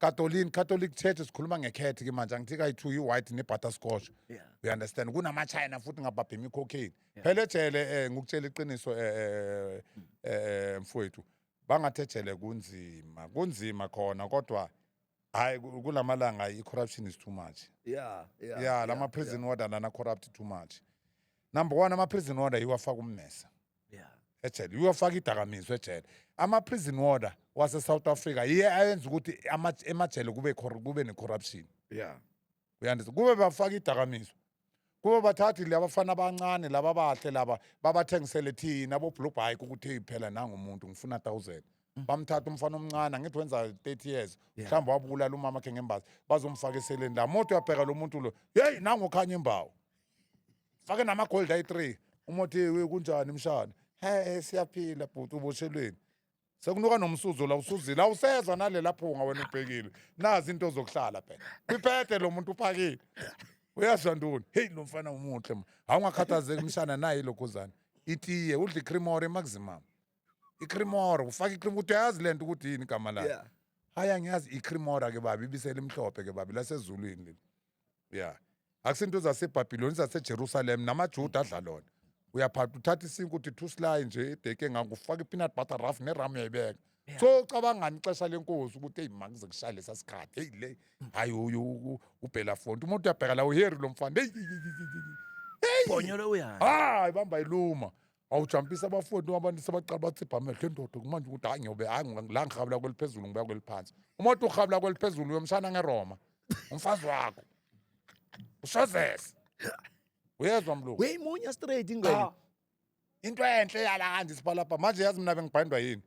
[SPEAKER 2] Katolini, Catholic Church sikhuluma ngekhethi ke manje angithi kayi-two yi-white ne-butterscotch Yeah. you understand kunamachina futhi ngabhabha imikhokheni phela ejele um ngikutshela iqiniso um um mfowethu bangathi ejele kunzima kunzima khona kodwa hhayi ku- kula malanga i-corruption is too much Yeah, yeah. ya la ma-prison order lana corrupt too much number one ama-prison order yiwafaka ummesa yeah ejele uyofaka idakamizwa ejele ama-prison water wase-south africa yiye ayenza ukuthi ama- emajele kube cor- kube ne-corruption yeah uyandisa kube bafaka idakamizwa kube bathathi labafana abancane laba bahle laba babathengisele thina boblue bike ukuthi "Hey, phela nangumuntu ngifuna 1000 bamthatha umfana omncane angithi wenza 30 years Yeah. mhlawumbe wabulala umama khe ngembazi bazomfaka eseleni la moto uyabheka lo muntu lo yeyi nangokhanya imbawo fake namagold ayi-three umothi we kunjani mshana he siyaphila bhuti uboshelweni sekunuka nomsuzo la usuzile awusezwa nalela phunga wena ubhekile nazi into zokuhlala phela kwiphethe lo muntu uphakile uyazwa ntoni heyi lo mfana umuhle ma awungakhathazeki mshana naye ilokhuzane itiye udla icrimore maximum icrimore ufaka icrimore ukuthi uyazi le nto ukuthi yini igama layo Yeah. hayi angiyazi icrimora ke babi ibisela imhlophe ke babi lasezulwini leli ya akusinto zasebhabhiloni zasejerusalem namajuda adla lona uyaphatha uthatha isinko uthi two sly nje ideke engako ufake i-peanut butter rough neramu uyayibeka Yeah. so ucabangani ixesha lenkosi ukuthi eyi makuze kushaya lesa sikhathi eyi le hhayi uyu u- ubhela fonto umuntu uyabheka la uheri lo mfana eyi bonyolo uyani
[SPEAKER 1] hayi bamba iluma
[SPEAKER 2] wawujampisa abafowethu abantu sebaqala bathipha amehlo endoda kumanje ukuthi hayi ngiyobe hayi ngi- la ngihabula kweliphezulu ngibuya kweliphansi uma uthi uhabula kweliphezulu uyomshana ngeroma umfazi wakho ushozese uyezwa mlungu weyimunya straight ingane
[SPEAKER 1] Cha. into
[SPEAKER 2] enhle yala kanje isipalapha manje yazi mina bengibhandwa yini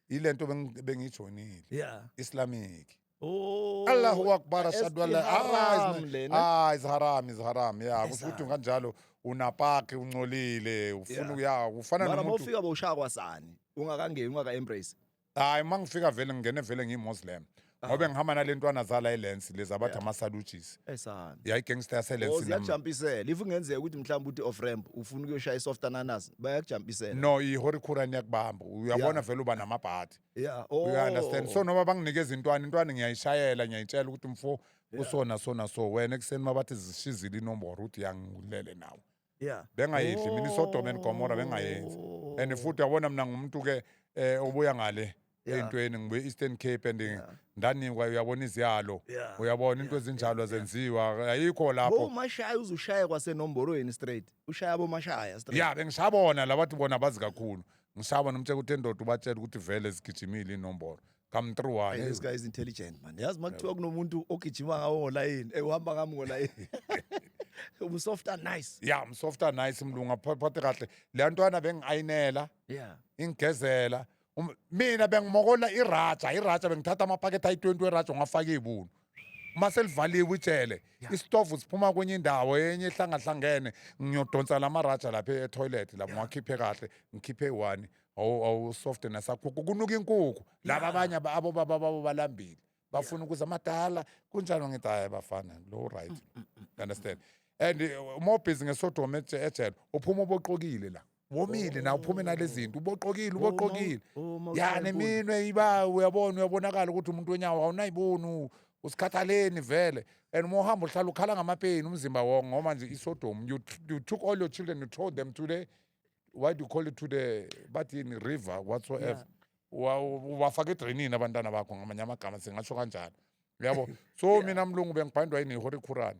[SPEAKER 2] yile nto bengi- bengiyijoyinile yeah
[SPEAKER 1] islamic
[SPEAKER 2] Oh,
[SPEAKER 1] Allahu akbar
[SPEAKER 2] ashhadu an la ah,
[SPEAKER 1] ah is haram is haram
[SPEAKER 2] yeah kusho ukuthi kanjalo unapaki uncolile ufuna uya ufana nomuntu mara ufika boshaya
[SPEAKER 1] kwasani ungakangeni ungaka embrace hayi mangifika
[SPEAKER 2] vele ngingene vele ngiyimuslim ngobe ngihamba nale ntwana zala ilensi lezi abathi ama-saluges esana yayigangster
[SPEAKER 1] yaselensi
[SPEAKER 2] nam- ziyajampisela if
[SPEAKER 1] kungenzeka ukuthi mhlawumbe uthi off ramp ufuna ukuyoshaya i-soft ananas bayakujampisela no ihorikura
[SPEAKER 2] niyakubamba uyabona vele uba namabhadi yeah oh you
[SPEAKER 1] understand so
[SPEAKER 2] noma banginikeza intwana intwana ngiyayishayela ngiyayitshela ukuthi mfo kusona sona so wena ekuseni mabathi zishizile inomboro uthi yangilele nawe yeah bengayidli
[SPEAKER 1] mina isodoma
[SPEAKER 2] and gomora bengayenzi Oh. and futhi yabona mina ngumuntu ke eh obuya ngale Yeah. eyintweni ngibuye Eastern Cape and Yeah. ndanikwa uyabona iziyalo Yeah. uyabona into Yeah.
[SPEAKER 1] ezinjalo
[SPEAKER 2] Yeah. zenziwa ayikho bo lapho mashaya uzushaya
[SPEAKER 1] kwasenomborweni straight ushaya bo mashaya straight yeah bengishabona
[SPEAKER 2] labathi bona bazi kakhulu ngishaba nomtshela ukuthi endoda ubatshela ukuthi vele zigijimile inombolo come through Hey, one this guy is intelligent
[SPEAKER 1] man yazi uma kuthiwa kunomuntu ogijima ngawo ngolayini eh, uhamba ngami ngolayini umsofta nice ya msofta nice
[SPEAKER 2] mlungu aphathe kahle leya ntwana bengi-ayinela yeah
[SPEAKER 1] ingigezela
[SPEAKER 2] Um- mina bengimokola iraja iraja bengithatha amaphakethe ayi-20 weraja ngafaka iy'bunu uma selivaliwe ijele isitofu siphuma kwenye indawo enye ehlangahlangene ngiyodonsa la maraja lapha etoilet lapho ngiwakhiphe kahle ngikhiphe one awu- awu soft nasakhukhu kunuka inkukhu laba abanye aba- abo baba babo balambile bafuna ukuza amadala kunjalo ngithi hayi bafana lo right You understand and eh, uma ubhizi ngesodoma eje- ejele uphuma uboqokile la womile na uphume nalezinto uboqokile uboqokile ya neminwe iba uyabona uyabonakala ukuthi umuntu wenyawo awunayiboni usikhathaleni vele and uma uhamba uhlala ukhala ngamapeyini umzimba wonke ngoba nje isodom you, you took all your children you told them to the why do you call it to the bathi yini river whatsoever Wa- ubafaka edrenini abantwana bakho ngamanye amagama singasho kanjalo uyabo so mina mlungu bengibhandwa yini ihorikhurani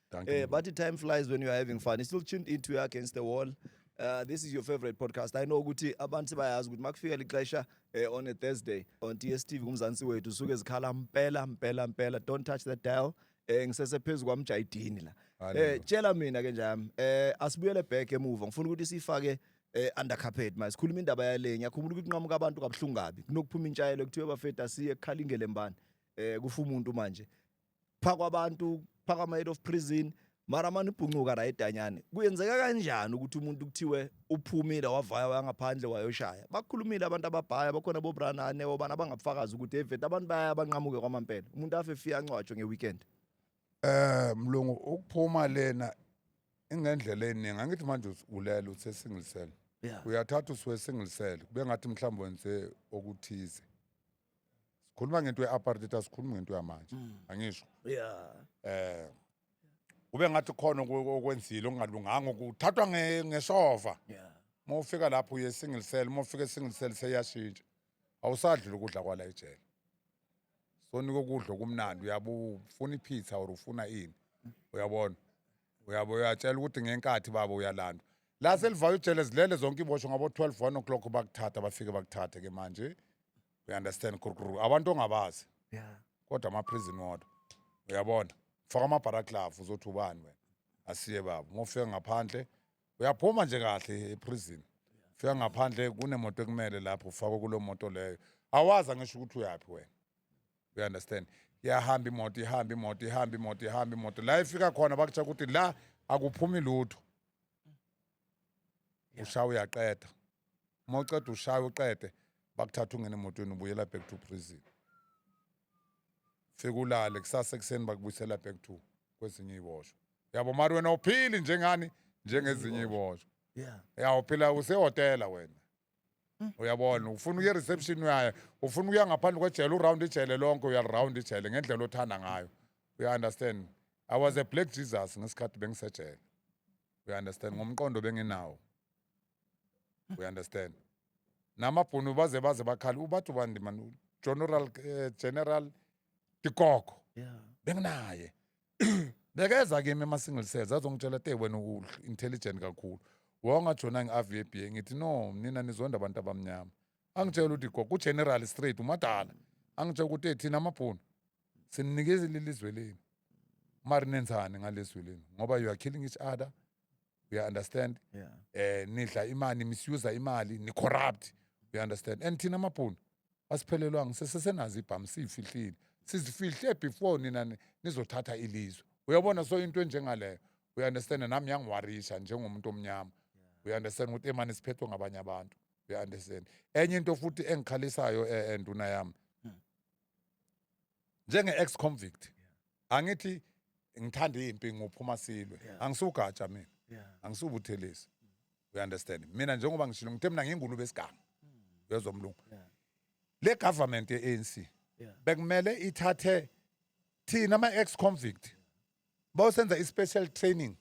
[SPEAKER 1] Dankie. Eh, but the
[SPEAKER 2] time flies when you
[SPEAKER 1] are having fun. He still tuned into your against the wall. Uh, this is your favorite podcast. I know ukuthi abantu bayazi ukuthi makufika lixesha eh, on a Thursday on DSTV kumzansi wethu suke zikhala mpela mpela mpela don't touch that dial. Eh ngisese phezulu kwamjayidini la. Eh tshela mina ke njami. Eh asibuyele back emuva. Ngifuna ukuthi sifake eh under carpet manje sikhuluma indaba yalenya khumula ukuthi kunqamuka abantu kabuhlungu kabi kunokuphuma intshayelo kuthiwe bafeta siye ekukhalingele mbani eh kufa umuntu manje phakwa abantu phakwa ama head of prison mara mani ubhuncuka right anyane kuyenzeka kanjani ukuthi umuntu kuthiwe uphumile wavaya wangaphandle wayoshaya bakhulumile abantu ababhaya bakhona bobranane obana abangabufakazi ukuthi evete abantu baya abanqamuke kwamampela umuntu afe fika ancwatshwe ngeweekend eh
[SPEAKER 2] mlungu ukuphuma lena ingendlela eningi angithi manje ulela uthe single cell yeah uyathatha usuwe single cell kube ngathi mhlawumbe wenze okuthize sikhuluma ngento ye-apartheid asikhulumi ngento yamanje mm. angisho yeah eh ube ngathi khona okwenzile okungalunganga ukuthathwa ngeshova yeah uma ufika lapho uye single cell uma ufika single cell seyashintsha awusadli ukudla kwala ejele sonika ukudla okumnandi uyabe ufuna ipizza or ufuna ini uyabona uyabo uyatshela ukuthi ngenkathi baba uyalandwa la selivayo ijele zilele zonke ibosho ngabo-12 1 o'clock bakuthatha bafike bakuthathe ke manje we understand kurukuru abantu ongabazi Yeah. kodwa
[SPEAKER 1] ama-prison
[SPEAKER 2] wodwa uyabona faka amabharaklavu uzothi ubani wena asiye baba uma ufika ngaphandle uyaphuma nje kahle eprison fika ngaphandle kunemoto ekumele lapho ufakwe kuleyo moto leyo awazi angisho ukuthi uyaphi wena you understand yahamba imoto ihamba imoto ihamba imoto ihamba imoto la ifika khona bakutsha ukuthi la akuphumi lutho ushaya uyaqeda uma uceda ushaya uqede bakuthatha ungena emotweni ubuyela back to prison fika ulale kusasa ekuseni bakubuyisela back to kwezinye iboshwa yabo mari wena uphili njengani njengezinye iboshwa yeah ya uphila usehotela wena hmm. uyabona ufuna ukuya reception uyaye ufuna ukuya ngaphandle kwejele uround ijele lonke uyaround ijele ngendlela othanda ngayo uya understand i was a black jesus ngesikhathi bengisejele uya understand ngomqondo benginawo uya understand namabhunu baze baze bakhali ubathi ubandi man general eh, general tikoko yeah. benginaye bekeza kimi ama-single cells azongitshela te wena intelligent kakhulu wawungajona ngi-avba ngithi no nina nizonda abantu abamnyama angitshela ukuthi go kugeneral straight umadala angitshela ukuthi thina amabhunu sininikeza lelizwe lenu mari nenzani ngalezwe lenu ngoba you are killing each other you understand yeah. eh nidla imali misuse imali ni corrupt you understand and thina amabhunu asiphelelwanga sesesenazi ibhamu siyifihlile sizifihle before nina nizothatha ilizwe uyabona so into enjengaleyo we understand nami yangiwarisha njengomuntu omnyama we understand ukuthi emane siphethwe ngabanye abantu we understand enye into futhi engikhalisayo enduna eh, eh, yami hmm. njenge ex convict angithi ngithanda impi ngophuma silwe angisugatsha mina angisubuthelisi you understand mina njengoba ngishilo ngithe mina ngingulube esiganga hmm. uyezwa mlungu le government ye-ANC bekumele ithathe thina ama-ex convict bayosenza i-special training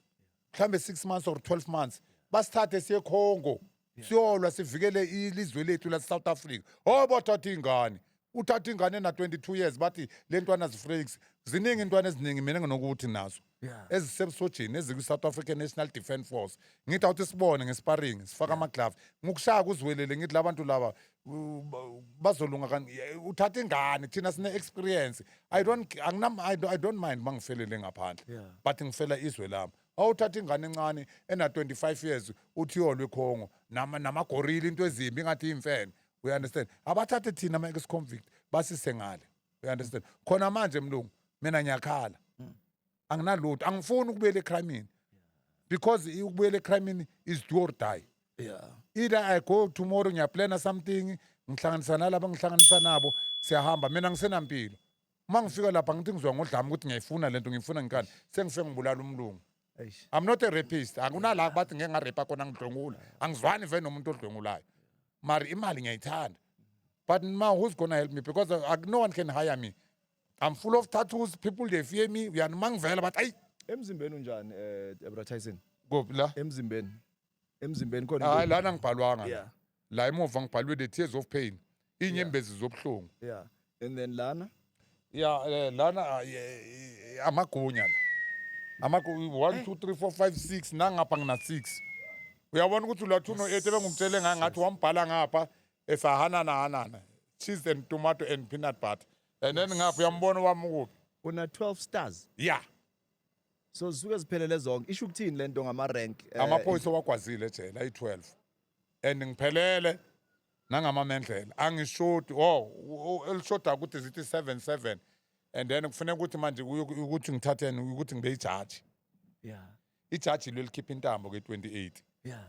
[SPEAKER 2] mhlambe 6 months or 12 months basithathe siye Congo siyolwa sivikele ilizwe lethu la South Africa oh bathatha ingane uthatha ingane na 22 years bathi le ntwana zifreaks ziningi intwana eziningi mina nginokuthi nazo Yeah. ezisebusojeni ezikwi South African National Defence Force ngithi awuthi sibone ngesparing sifaka ama glove ngikushaya kuzwelele ngithi labantu laba u- ba- bazolunga kan uthatha ingane thina sine experience i don't anginam I don't- i don't mind mangifelele ngaphandle Yeah. but ngifela izwe lami awuthatha ingane encane ena 25 years uthi yolwe khongo nama namagorila into ezimbi ngathi imfene we understand abathathe thina ama ex convict basise ngale we understand khona manje mlungu mina ngiyakhala anginalutho angifuni ukubuyela ekhramini because ukubuyela ekhramini is do or die yeah either i go tomorrow ngiyaplana something ngihlanganisa nalaba ngihlanganisa nabo siyahamba mina ngisenampilo uma ngifika lapha ngithi ngizwa ngodlama ukuthi ngiyayifuna lento ngiyifuna ngikani sengifike ngibulala umlungu eish I'm not a rapist. Akunala bathi ngeke ngarepa kona ngidlwengula. Angizwani vele nomuntu odlwengulayo. Mari imali ngiyayithanda. But ma who's gonna help me because uh, no one can hire me. I'm full of tattoos. People they fear me. We are mangvela, but I emzimbeni unjani
[SPEAKER 1] eh Deborah Tyson go la.
[SPEAKER 2] emzimbeni
[SPEAKER 1] emzimbeni khona Hayi into- lana ngibhalwanga.
[SPEAKER 2] Yeah. La emuva ngibhalwe the tears of pain. Inyembezi zobuhlungu. yeah and then
[SPEAKER 1] lana Yeah, eh, lana
[SPEAKER 2] ah, eh, eh, amagunya la. Amagu 1 2 3 4 5 6 nangapha ngina 6. Uyabona ukuthi ulathuno 8 ebengumtshele ngaye ngathi wambhala ngapha esahanana hanana cheese and tomato and peanut butter and then ngapha uyambona wami ukuphi una 12 stars
[SPEAKER 1] yeah so zisuke ziphelele zonke isho ukuthini lento ngama rank eh, amaphoyisa wagwazile
[SPEAKER 2] ejele ayi-12 and ngiphelele nangamamendlela angishodi o elishoda ukuthi zithi 77 and then kufuneka ukuthi manje kuyo- ukuthi ngithatheni ukuthi ngibe yijaji yeah ijaji lo elikhipha intambo ke-28 yeah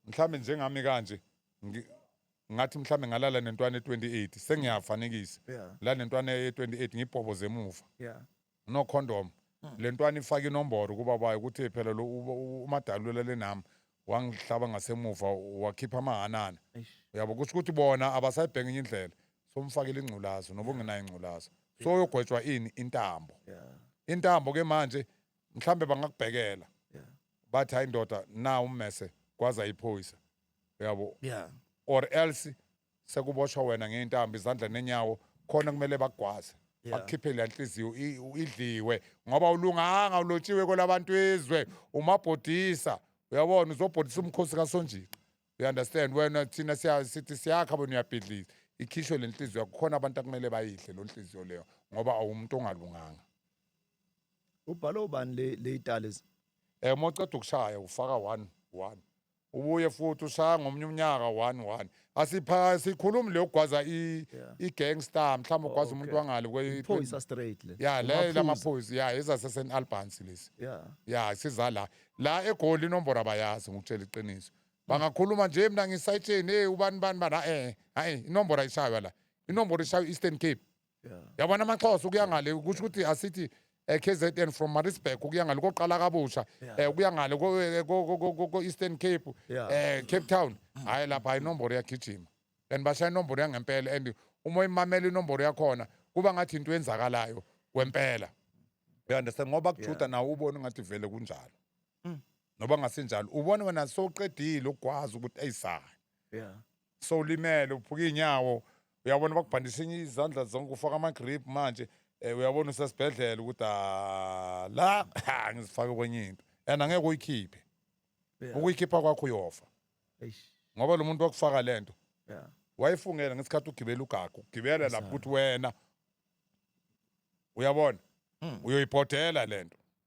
[SPEAKER 2] mhlawumbe njengami kanje ngi- ngathi mhlawumbe ngalala nentwana e-28 sengiyafanekisa Yeah. la nentwana ye-28 ngibhoboze emuva yeah no condom le ntwana ifake inomboro kuba bayo ukuthi phela lo u- u- umadali ulele nami wangihlaba ngasemuva wakhipha amahanana Eish. uyabo kusho ukuthi bona abasayibheka enye indlela somfakela ingculazo noba ungenayo ingculazo so uyogwetshwa ini intambo yeah intambo ke manje mhlambe bangakubhekela yeah bathi hayi ndoda na ummese kwaza iphoyisa uyabo yeah or else sekuboshwa wena ngeintambo izandla nenyawo khona kumele bakugwaze Yeah. bakukhiphe le nhliziyo i- u- idliwe ngoba ulunganga ulotshiwe kwelabantu izwe umabhodisa uyabona uzobhodisa umkhosi kasonjika you understand wena thina siya- sithi siyakha bona uyabhidliza ikhishwe le nhliziyo yakho khona abantu akumele bayidle lo nhliziyo leyo ngoba awumuntu ongalunganga
[SPEAKER 1] ubhalo ubani le le italies eh moceda
[SPEAKER 2] ukushaya ufaka 1 1 ubuye futhi ushaya ngomunye umnyaka 1 1 asipha sikhulumi le ugwaza i Yeah. i gangster mhlawumbe ugwaza Oh, umuntu okay. wangale kwe phoyisa straight
[SPEAKER 1] le ya le Amaphuzu. lamaphoyisa
[SPEAKER 2] ya ezase St Albans lesi yeah ya siza la la egoli inombolo abayazi ngikutshela iqiniso bangakhuluma nje mina ngisayitsheni hey ubani bani bani eh hayi inombolo ayishaywa la inombolo ishaywa Eastern Cape yabona amaxhosa ukuya ngale kusho ukuthi asithi eh, kzn from marisburg ukuya ngale koqala kabusha eh, ukuya ngale ko- eh, ko- ko- ko- ko- ko-eastern cape Yeah. eh, cape town hhayi lapha hhayi inomboro yagijima and bashaya inomboro yangempela and uma uyimamela inomboro yakhona kuba ngathi into enzakalayo kwempela you understand ngoba kujuda nawe ubone ngathi vele kunjalo noba ngasinjalo ubone wena sowuqedile ukugwazi ukuthi eyisani Yeah. sowulimele uphuka iy'nyawo uyabona bakubhandisha enye izandla zonke ufaka ama-grip manje um uyabona usesibhedlela ukuthi "Ah, la ha, ngizifake kwenye into and angeke uyikhiphe Yeah. ukuyikhipha kwakho uyofa Eish. ngoba lo muntu wakufaka le nto Yeah. wayifungela ngesikhathi ugibela ugagu ugibela lapho ukuthi wena uyabona uyoyibhodela le nto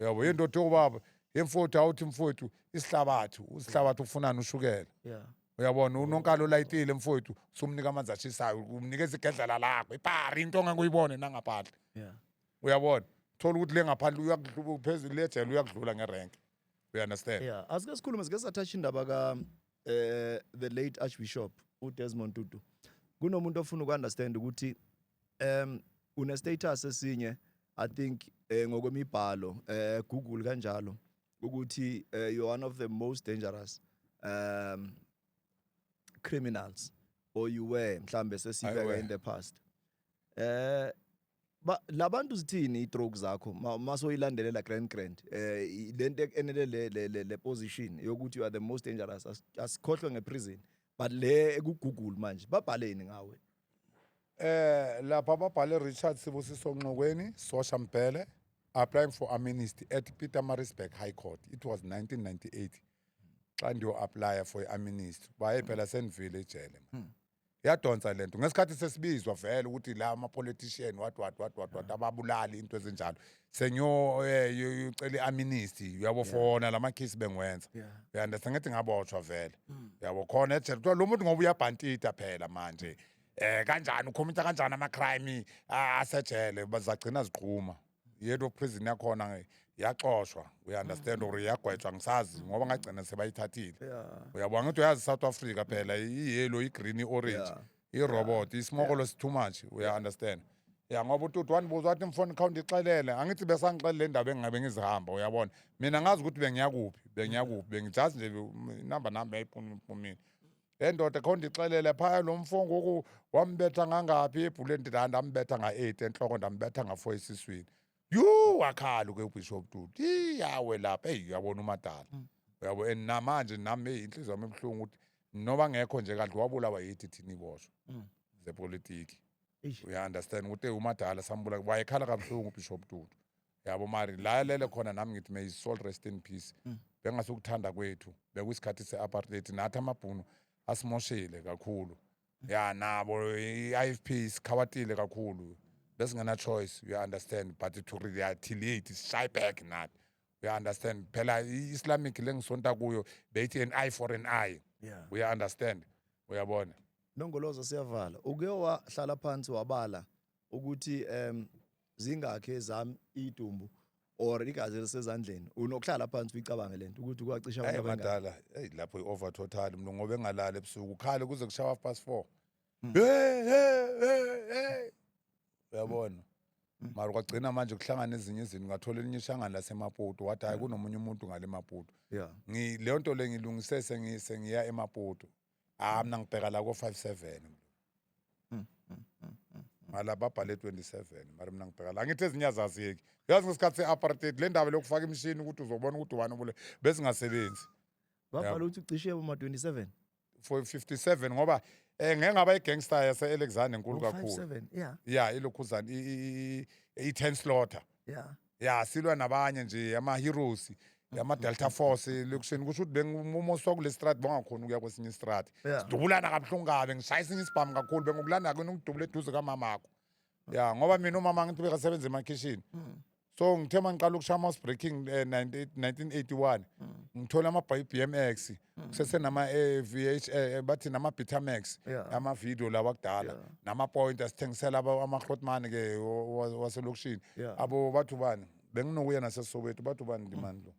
[SPEAKER 2] yabo yendoda yobaba yemfowethu awuthi mfowethu isihlabathi usihlabathi ufunani ushukela yeah uyabona unonkalo olayitile mfowethu sumnika amanzi ashisayo umnikeza igedlela lakho ipari into onganguyibone nangaphandle yeah uyabona thola ukuthi le ngaphandle uyakudluba phezulu lejele uyakudlula ngerenke you understand yeah asike sikhulume sike
[SPEAKER 1] sathatha indaba ka eh the late archbishop uDesmond Tutu kunomuntu ofuna ukuunderstand ukuthi um une status esinye i think eh, ngokwemibhalo eh google kanjalo ukuthi eh, you're one of the most dangerous um criminals or you were mhlambe sesibeka in the past eh Ba labantu zithini itroke zakho masoyilandelela grand grand eh lento e-, enele le le le, le position yokuthi you are the most dangerous as- asikhohlwe ngeprison but le ku Google manje babhaleni ngawe Eh
[SPEAKER 2] lapha babhale Richard Sibusiso Nxokweni, Sosha Mbhele, applying for amnesty at Pietermaritzburg High Court. It was 1998. Xa ndiyo apply for amnesty. Baye phela sendivile ejele. man. yadonsa le nto ngesikhathi sesibizwa vele ukuthi la ama-politician what what what what what ababulali into ezinjalo sengiyocela i-amnesty uyabo fona la makhisi bengiwenza Yeah. uyanda sengithi ngabotshwa vele Mm. yabo khona ejele kuthiwa lo muntu ngoba uyabhantita phela manje um kanjani ukhomitha kanjani ama-crime ah, asejele ba- zagcina ziqhuma yedwa prison yakhona nge- yaxoshwa uyaunderstand or yagwetshwa ngisazi ngoba ngagcina sebayithathile Yeah. uyabona ukuthi uyazi south africa phela iyelo igreen i-orange Yeah. irobot isimokolo si-too much uya-understand ya ngoba ututi wandibuza wathi mfoni kha undixelele angithi besangixelele le ndaba engingabe ngizihamba uyabona mina ngazi ukuthi bengiya kuphi bengiya kuphi bengijazi nje inamba nami yayiphumile le ndoda kho ndixelele phaya lo mfo ngoku wambetha ngangaphi ebhuleni ndithi ndambetha nga-eight entloko ndambetha nga-four esiswini yhu wakhala ke ubishop tuti iyawe lapha eyi uyabona umadala mm. uyabo and namanje nam eyi inhliziyo yam ebuhlungu ukuthi noba ngekho nje kanti wabulawa yithi thina iboshwa mm. zepolitiki uya-understand ukuthi eyi umadala sambula wayekhala kabuhlungu ubishop tutu yabo mari la alele khona nami ngithi may his soul rest in peace Mm. bengasukuthanda kwethu bekuyisikhathi se-apartheid nathi amabhunu asimoshile kakhulu ya nabo i-ifp isikhawatile kakhulu besingena-choice uya-understand but to retaliate shy back nathi uya-understand phela i-islamic lengisonta kuyo beyithi an eye for an eye Yeah. uya-understand uyabona Nongoloza
[SPEAKER 1] siyavala. Uke wahlala phansi wabala ukuthi em zingakhi ezami idumbu or igazi elisezandleni unokuhlala phansi uyicabange lento ukuthi kwacisha abantu abangaki madala hey lapho
[SPEAKER 2] i-over total mntu ngoba engalali ebusuku ukhale kuze kushawa half past four hmm. hey hey hey uyabona hmm. mara kwagcina manje kuhlangana ezinye izinto ngathola elinye ishangane lasemaputo wathi hayi hmm. kunomunye umuntu ngale maputo leyo nto le ngilungise sengiya emaputo ah mina ngibheka la ko 57 ngala babhale 27 mara mina ngibheka la ngithi ezinye azaziyeki uyazi ngesikhathi se-apartheid le ndaba lokufaka imishini ukuthi uzobona ukuthi ubani obule besingasebenzi babhala
[SPEAKER 1] ukuthi ucishe uma 27 for 57
[SPEAKER 2] ngoba eh ngeke ngaba igangster yase Alexander enkulu kakhulu 57 yeah ya
[SPEAKER 1] ilokhuzana
[SPEAKER 2] i 10 slaughter yeah ya silwa nabanye nje ama-heroes yama-delta force lekuseni kusho ukuthi bengimumo osuka kule strati bongakhona ukuya kwesinye istrati Yeah. sidubulana kabuhlungu kabi ngishaya esinye isibhamu kakhulu bengokulanda kuyona ukudubula eduze kamamakho ya ngoba mina umama ngithi bekasebenza emakhishini so ngithe uma ngiqala ukushaya ama-house breaking eh, 19- 1981 ngithole amabhayi i-b m x Mm. sesenama eh, VH eh, bathi nama Betamax Yeah. ama video lawa kudala Yeah. nama point asithengisela aba- ama Grootman ke wa- wa- waselokishini Yeah. Mm. abo bathu bani benginokuya naseSoweto bathu bani ndimani lo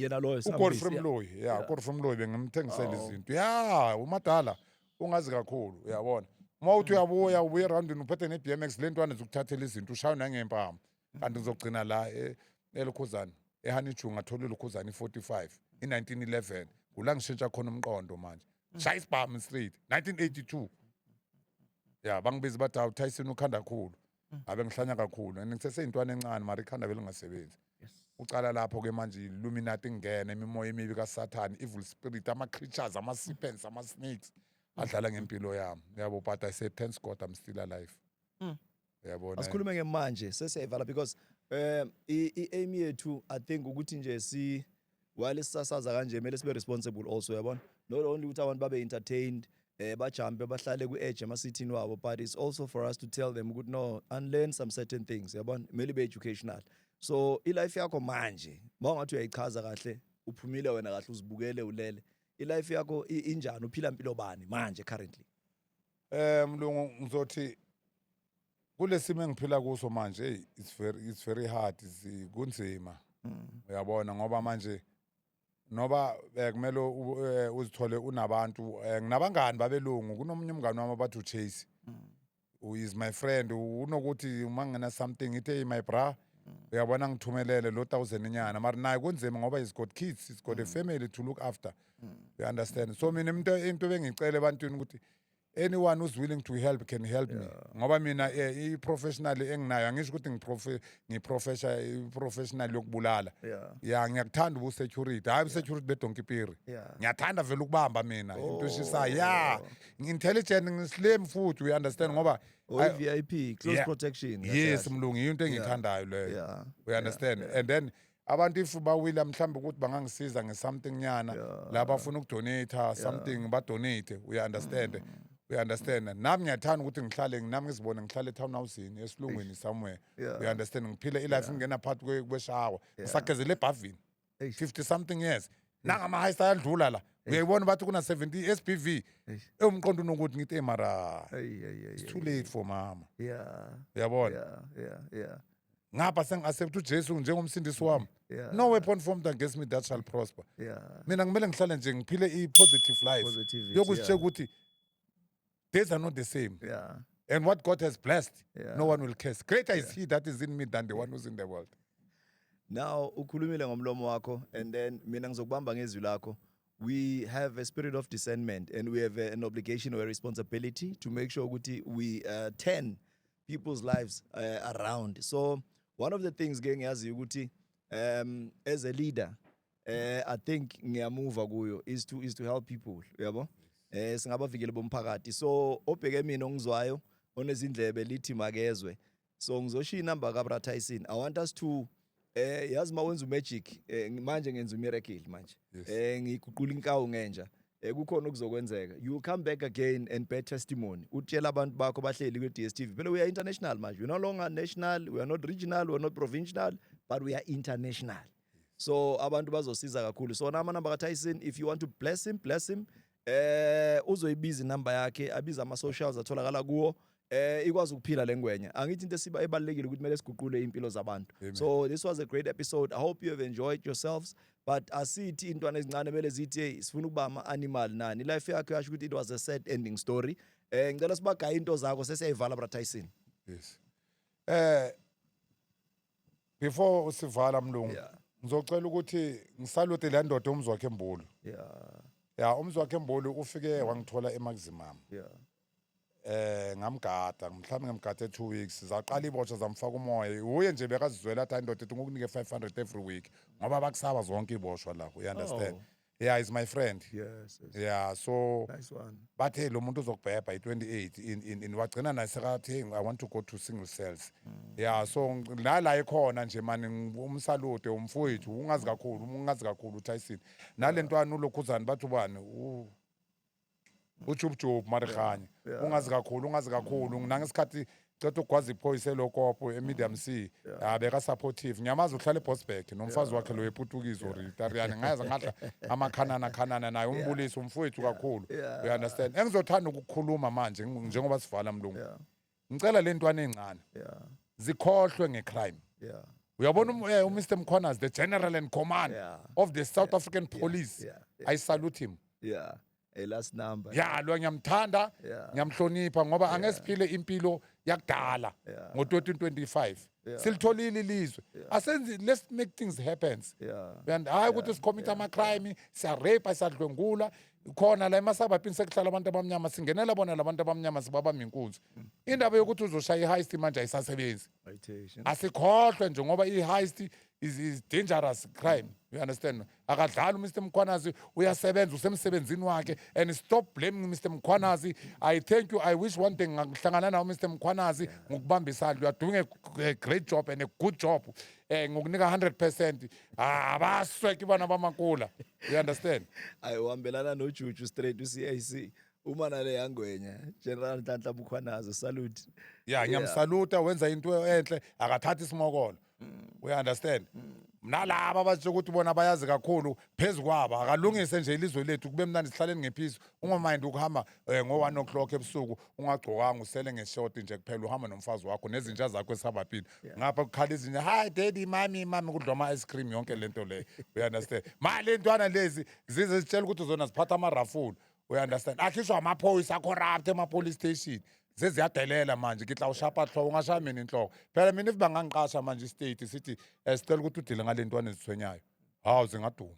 [SPEAKER 2] yena loyo
[SPEAKER 1] uGodfrey Sambisi, yeah. Mloyi yeah
[SPEAKER 2] Yeah. Godfrey Mloyi bengimthengisela Oh. izinto yeah umadala ungazi kakhulu uyabona uma Mm. uthi uyabuya ubuye roundini uphethe ne BMX lentwana zokuthathela izinto ushaywe nangempama kanti ngizogcina la e- elukhuzana ehaniju ngathola ilukhuzana i-45 i-1911 kula ngishintsha khona umqondo manje shaya isibhamu straight 1982 ya bangibiza bathi hawu tyson ukhanda kakhulu abe ngihlanya kakhulu and ngiseseyintwana encane mara ikhanda belingasebenzi ucala lapho ke manje illuminati ingena imimoya emibi kasathane evil spirit ama-creatures ama-serpents ama-snakes adlala ngempilo yami yabo but i say thanks god i'm still alive uyabona asikhulume ngemanje
[SPEAKER 1] sesiyayivala because um i-aim yethu i think ukuthi nje si while sisasaza kanje kumele sibe responsible also yabona not only ukuthi abantu babe entertained eh bajampe bahlale ku-edge emasithini wabo but it's also for us to tell them ukuthi no unlearn some certain things yabona kumele be educational so ilife yakho manje uma ungathi uyayichaza kahle uphumile wena kahle uzibukele ulele ilife yakho injani uphila mpilo bani manje currently Eh
[SPEAKER 2] mlungu ngizothi kulesimo engiphila kuso manje hey it's very it's very hard zi- kunzima Mm. uyabona ngoba manje noba eh, kumele u- eh, uzithole unabantu eh, nginabangani babelungu kunomunye umngani wami abathi uchase Mm. who is my friend unokuthi uma ngena something ngithi hey my bra Mm. uyabona ngithumelele lo thousand inyana mara naye kunzima ngoba he's got kids he's got a family to look after you understand so mina into into bengicela ebantwini ukuthi anyone who's willing to help can help me ngoba mina eh, i-professional enginayo angisho ukuthi ngiprofe- ngiprofesha- i-professional yokubulala Yeah. ya ngiyakuthanda ubusecurity hhayi ubusecurity bedonkipiri Yeah. Oh. ngiyathanda vele ukubamba mina into eshisayo ya ngi-intelligent ngislame futhi we understand ngoba Or I- i-VIP,
[SPEAKER 1] close Yeah. protection. yes mlungu yiyo into
[SPEAKER 2] engiyithandayo leyo Yeah. we understand and then abantu if bawila mhlawumbe ukuthi bangangisiza nge-something nyana yeah. la bafuna ukudonata something yeah. badonate uya-understand mm. uya-understand nami ngiyathanda ukuthi ngihlale nami ngizibone ngihlale etown housini esilungwini somewhere yeah. uya-understand ngiphile ilife yeah. ngingena phakathi kweshawa yeah. ngisagezele ebhavini 50 something years nangamahayisa ayadlula la uyayibona bathi kuna-70 s b v ewumqondo unokuthi ngithi emara it's too late for mama uyabona yeah, yeah, yeah. ngapha sengi-accept ujesu njengomsindisi wami Yeah. no weapon formed against me that shall prosper Yeah. mina kumele ngihlale nje ngiphile i-positive life Positivity, yokuzitshela yeah. ukuthi days are not the same Yeah. and what god has blessed Yeah. no one will curse greater is he that is in me than the one who's in the world Now
[SPEAKER 1] ukhulumile ngomlomo wakho and then mina ngizokubamba ngezwi lakho. We have a spirit of discernment and we have a- an obligation or a responsibility to make sure ukuthi we uh, turn people's lives uh, around so one of the things ke ngiyaziyo ukuthi um as a leader eh i think ngiyamuva kuyo is to is to help people uyabo eh singabavikeli bomphakathi so obheke mina ongizwayo onezindlebe lithi makezwe so ngizoshiya inamba ka Brother Tyson i want us to Eh yazi ma wenza umagic eh, manje ngenza umiracle manje. Yes. Eh ngiguqula inkawu ngenja. Eh kukhona okuzokwenzeka. You will come back again and bear testimony. Utshela abantu bakho bahleli kwi DStv. Phela we are international manje. We're no longer national, we are not regional, we are not provincial, but we are international. So abantu bazosiza kakhulu. So nama number ka Tyson if you want to bless him, bless him. Eh uzoyibiza inamba yakhe, abiza ama socials atholakala kuwo. eh ikwazi ukuphila lengwenya angithi into esiba ebalekile ukuthi kumele siguqule impilo zabantu so this was a great episode i hope you have enjoyed yourselves but asithi intwana ezincane mele zithi hey sifuna ukuba ama animal nani life yakhe yasho ukuthi it was a sad ending story eh ngicela sibagaya into zakho sesiyayivala bra Tyson yes
[SPEAKER 2] eh before usivala mlungu yeah. ngizocela ukuthi ngisalute le ndoda umzwakhe embulu yeah ya umzwakhe embulu ufike wangithola emaximum yeah eh ngamgada mhlawumbe ngamgada 2 weeks zaqala ibotsha zamfaka umoya uye nje bekazizwela athi indoda ethi ngokunike 500 every week ngoba bakusaba zonke iboshwa la you understand oh. yeah is my friend yes, yes. yeah
[SPEAKER 1] so
[SPEAKER 2] nice one but hey
[SPEAKER 1] lo muntu
[SPEAKER 2] uzokubhebha i28 in in, in wagcina naye sekathi i want to go to single cells mm. yeah so la la ikhona nje mani umsalute umfowethu ungazi kakhulu ungazi kakhulu uTyson nalentwana ulokhuzani bathu bani ujubujubu marihanye Yeah. ungazi kakhulu ungazi kakhulu nangesikhathi ceda ukugwaza iphoyisa elokopo emedium c ya beka-supportive ngiyamazi uhlala ebosbek nomfazi wakhe loyo eputukizwa or itariyane ngayazi ngadla amakhanana khanana naye umbulisi umfowethu kakhulu Yeah. you understand engizothanda ukukhuluma manje ngu- njengoba sivala mlungu Yeah. ngicela le ntwana encane yeah zikhohlwe ngecrime yeah uyabona um, eh, umr mkhona is the general and command Yeah. of the south african police yeah, yeah, i salute him yeah a last
[SPEAKER 1] number ya lo ngiyamthanda
[SPEAKER 2] Yeah. ngiyamhlonipha ngoba angesiphile impilo yakudala Yeah. ngo-2025 Yeah. silitholile ilizwe asenzi let's make things happens yeah and hayi ukuthi sikhommitha amacrime siyarape siyadlwengula khona la emasabhabhini sekuhlala abantu abamnyama singenela bona labantu abamnyama sibaba minkunzi indaba yokuthi uzoshaya i-heist manje ayisasebenzi asikhohlwe nje ngoba i-heist is, is dangerous crime you understand akadlali umr mkhwanazi uyasebenza usemsebenzini wakhe and stop blaming mr mkhwanazi i thank you i wish one thing ngakuhlangana nawo mr mkhwanazi ngokubamba isandla you are doing a, a great job and a good job um ngokunika 100 percent ah baswe ke bana ba makula you understand ayi uhambelana
[SPEAKER 1] nojuju straight uCIC uma nale yangwenya general Nhlanhla Bukhwanazo salute ya ngiyamsaluta
[SPEAKER 2] wenza into enhle akathathi isimokolo mm. u understand mm. mina laba abathi ukuthi bona bayazi kakhulu phezu kwabo akalungise nje ilizwe lethu kube mnandi sihlaleni ngephizo ungamind ukuhamba um ngo-one o'clock ebusuku ungagcokanga usele ngeshoti nje kuphela uhamba nomfazi wakho nezinja zakho esababhini ngapha kukhala izinja hayi daddy mami mami kudla ama-ice cream yonke le nto leyo uyandastand ma le ntwana lezi zize zitshela ukuthi zona ziphatha amarafula uyandastand akhishwa amaphoyisa acorrupt ema-police station seziyadelela manje ngitla ushapa hloko ungashaya mina inhloko phela mina if bangangiqasha manje istate sithi um sicela ukuthi udile ngale ntwana ezithwenyayo hawu zingaduma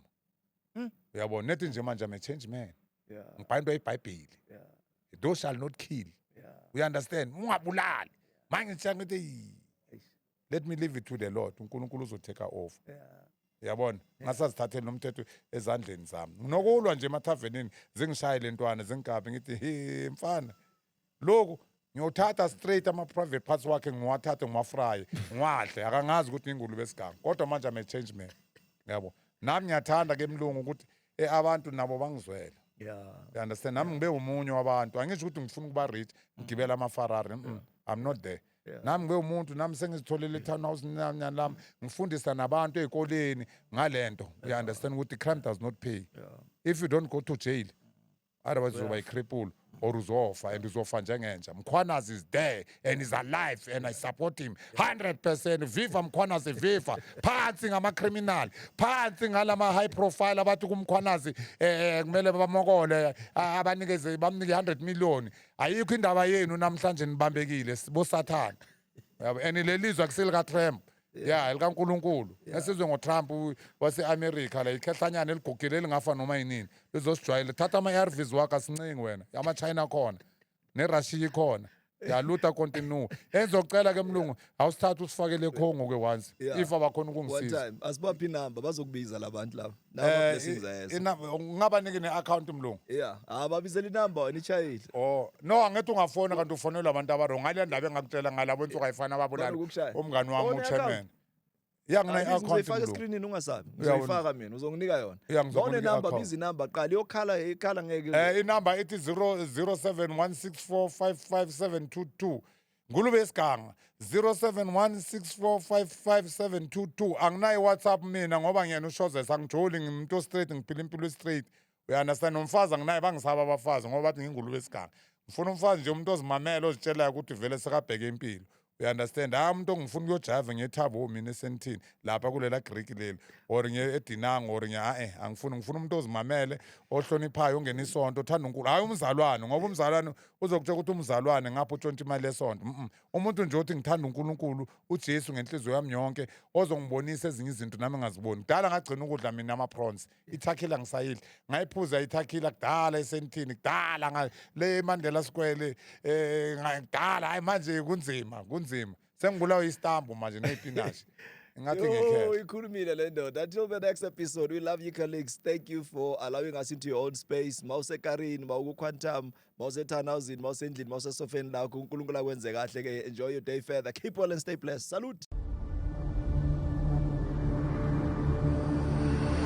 [SPEAKER 2] Mm. uyabona nethi nje manje i'm a change man Yeah. ngibhala into yebhayibheli Yeah. thou shall not kill Yeah. you understand ungabulali manje ngitshela ngithi "Yi, Eish. let me leave it to the lord unkulunkulu uzoteka over Yeah. yabona ngasazithatheli nomthetho ezandleni zami nokulwa nje emathavenini zingishaye lentwana zingikabi ngithi he mfana lokhu ngiyothatha straight ama-private parts wakhe ngiwathathe ngiwafraye ngiwadle akangazi ukuthi ingulube esigango kodwa manje ame change man yabo nami ngiyathanda ke mlungu ukuthi e abantu nabo bangizwele yeah. you understand nami ngibe umunye wabantu angisho ukuthi ngifuna ukuba rich ngigibela amafarari mm -mm. i'm not there Yeah. nami ngibe umuntu nami sengizitholele i-townhouse nyanyani lami ngifundisa nabantu ey'koleni ngale nto you understand ukuthi crime does not pay yeah. if you don't go to jail otherwise uzoba ikripulu or uzofa and uzofa njengenja mkhwanazi is there and is alive and i support him 100 viva mkhwanazi viva phansi ngamacriminal phansi ngalama high profile abathi kumkhwanazi eh kumele bamokole a- abanikeze bamnike 100 million ayikho indaba yenu namhlanje nibambekile sibosathana yabo and lelizwe akusilika Trump ya elika uNkulunkulu esizwe ngo Trump u- wase America la ikhehlanyana eligugile elingafa noma yinini lizosijwayela thatha ama ARVs wakho asincingi wena ama China khona ne Russia ikhona yaluta continue ezocela ke mlungu awusithatha usifakele eCongo ke once Yeah. if abakhona One ukungisiza time. Asibaphi inamba
[SPEAKER 1] bazokubiza labantu laba. Lawa Eh, blessings i- ayezo. inamba- ungabaniki ne-akhawunti
[SPEAKER 2] mlungu Yeah, ah babizela inamba
[SPEAKER 1] wena ichayile. o no angithi
[SPEAKER 2] ungafona kanti ufonelwa abantu abarong ngale ndaba engakutshela ngalabo ensuku ayifani Bani ababulali ukushaya? umngani wami Ona uchairman i-akhawunti? ya Ayibizi,
[SPEAKER 1] ngine-akhawunti Uzoyifaka mlungu escreenini ungasabi. Uyawona. Uzoyifaka mina uzonginika yona. Yeah, ngizokunika Bone number i-akhawunti. bizi number qala iyokhala ikhala ngeke. Eh, inamba ithi 0 07 164 55722
[SPEAKER 2] ngulube isiganga 0716455722 anginaye whatsapp mina ngoba ngiyena ushozesa angijoli ngimuntu ostraight ngiphila impilo estraight uyandastand nomfazi anginaye bangisaba abafazi ngoba bathi ngingulube esiganga ngifuna umfazi nje umuntu ozimamele ozitshelayo ukuthi vele sekabheke impilo uyandastand hayi umuntu ongifuna ukuyojava ngethabo oh, mina esentini lapha kulela griki leli or edinango or ngiya-e angifuni ngifuna umuntu ozimamele ohloniphayo ongena isonto othanda unkulu hhayi umzalwane ngoba umzalwane uzokutshela ukuthi umzalwane ngapha utshontsha imali yesonto mm umuntu nje othi ngithanda uNkulunkulu uJesu ngenhliziyo yami yonke ozongibonisa ezinye izinto nami ngaziboni kudala ngagcina ukudla mina ama-prawns ithakhila ngisayidla ngayiphuza ithakhila kudala esenithini kudala le mandela sikwele um kudala hayi manje kunzima kunzima Sengibulawa istambu manje neyipinashi. Ngathi ngekhe. Ikhulumile le ndoda.
[SPEAKER 1] Until the next episode, we love you colleagues. Thank you for allowing us into your own space. Mawuse Karin, mawuku Quantum, mawuse Tanauzin, mawuse endlini, mawuse sofeni lakho. uNkulunkulu akwenze kahle ke. Enjoy your day further. Keep well and stay blessed. Salute.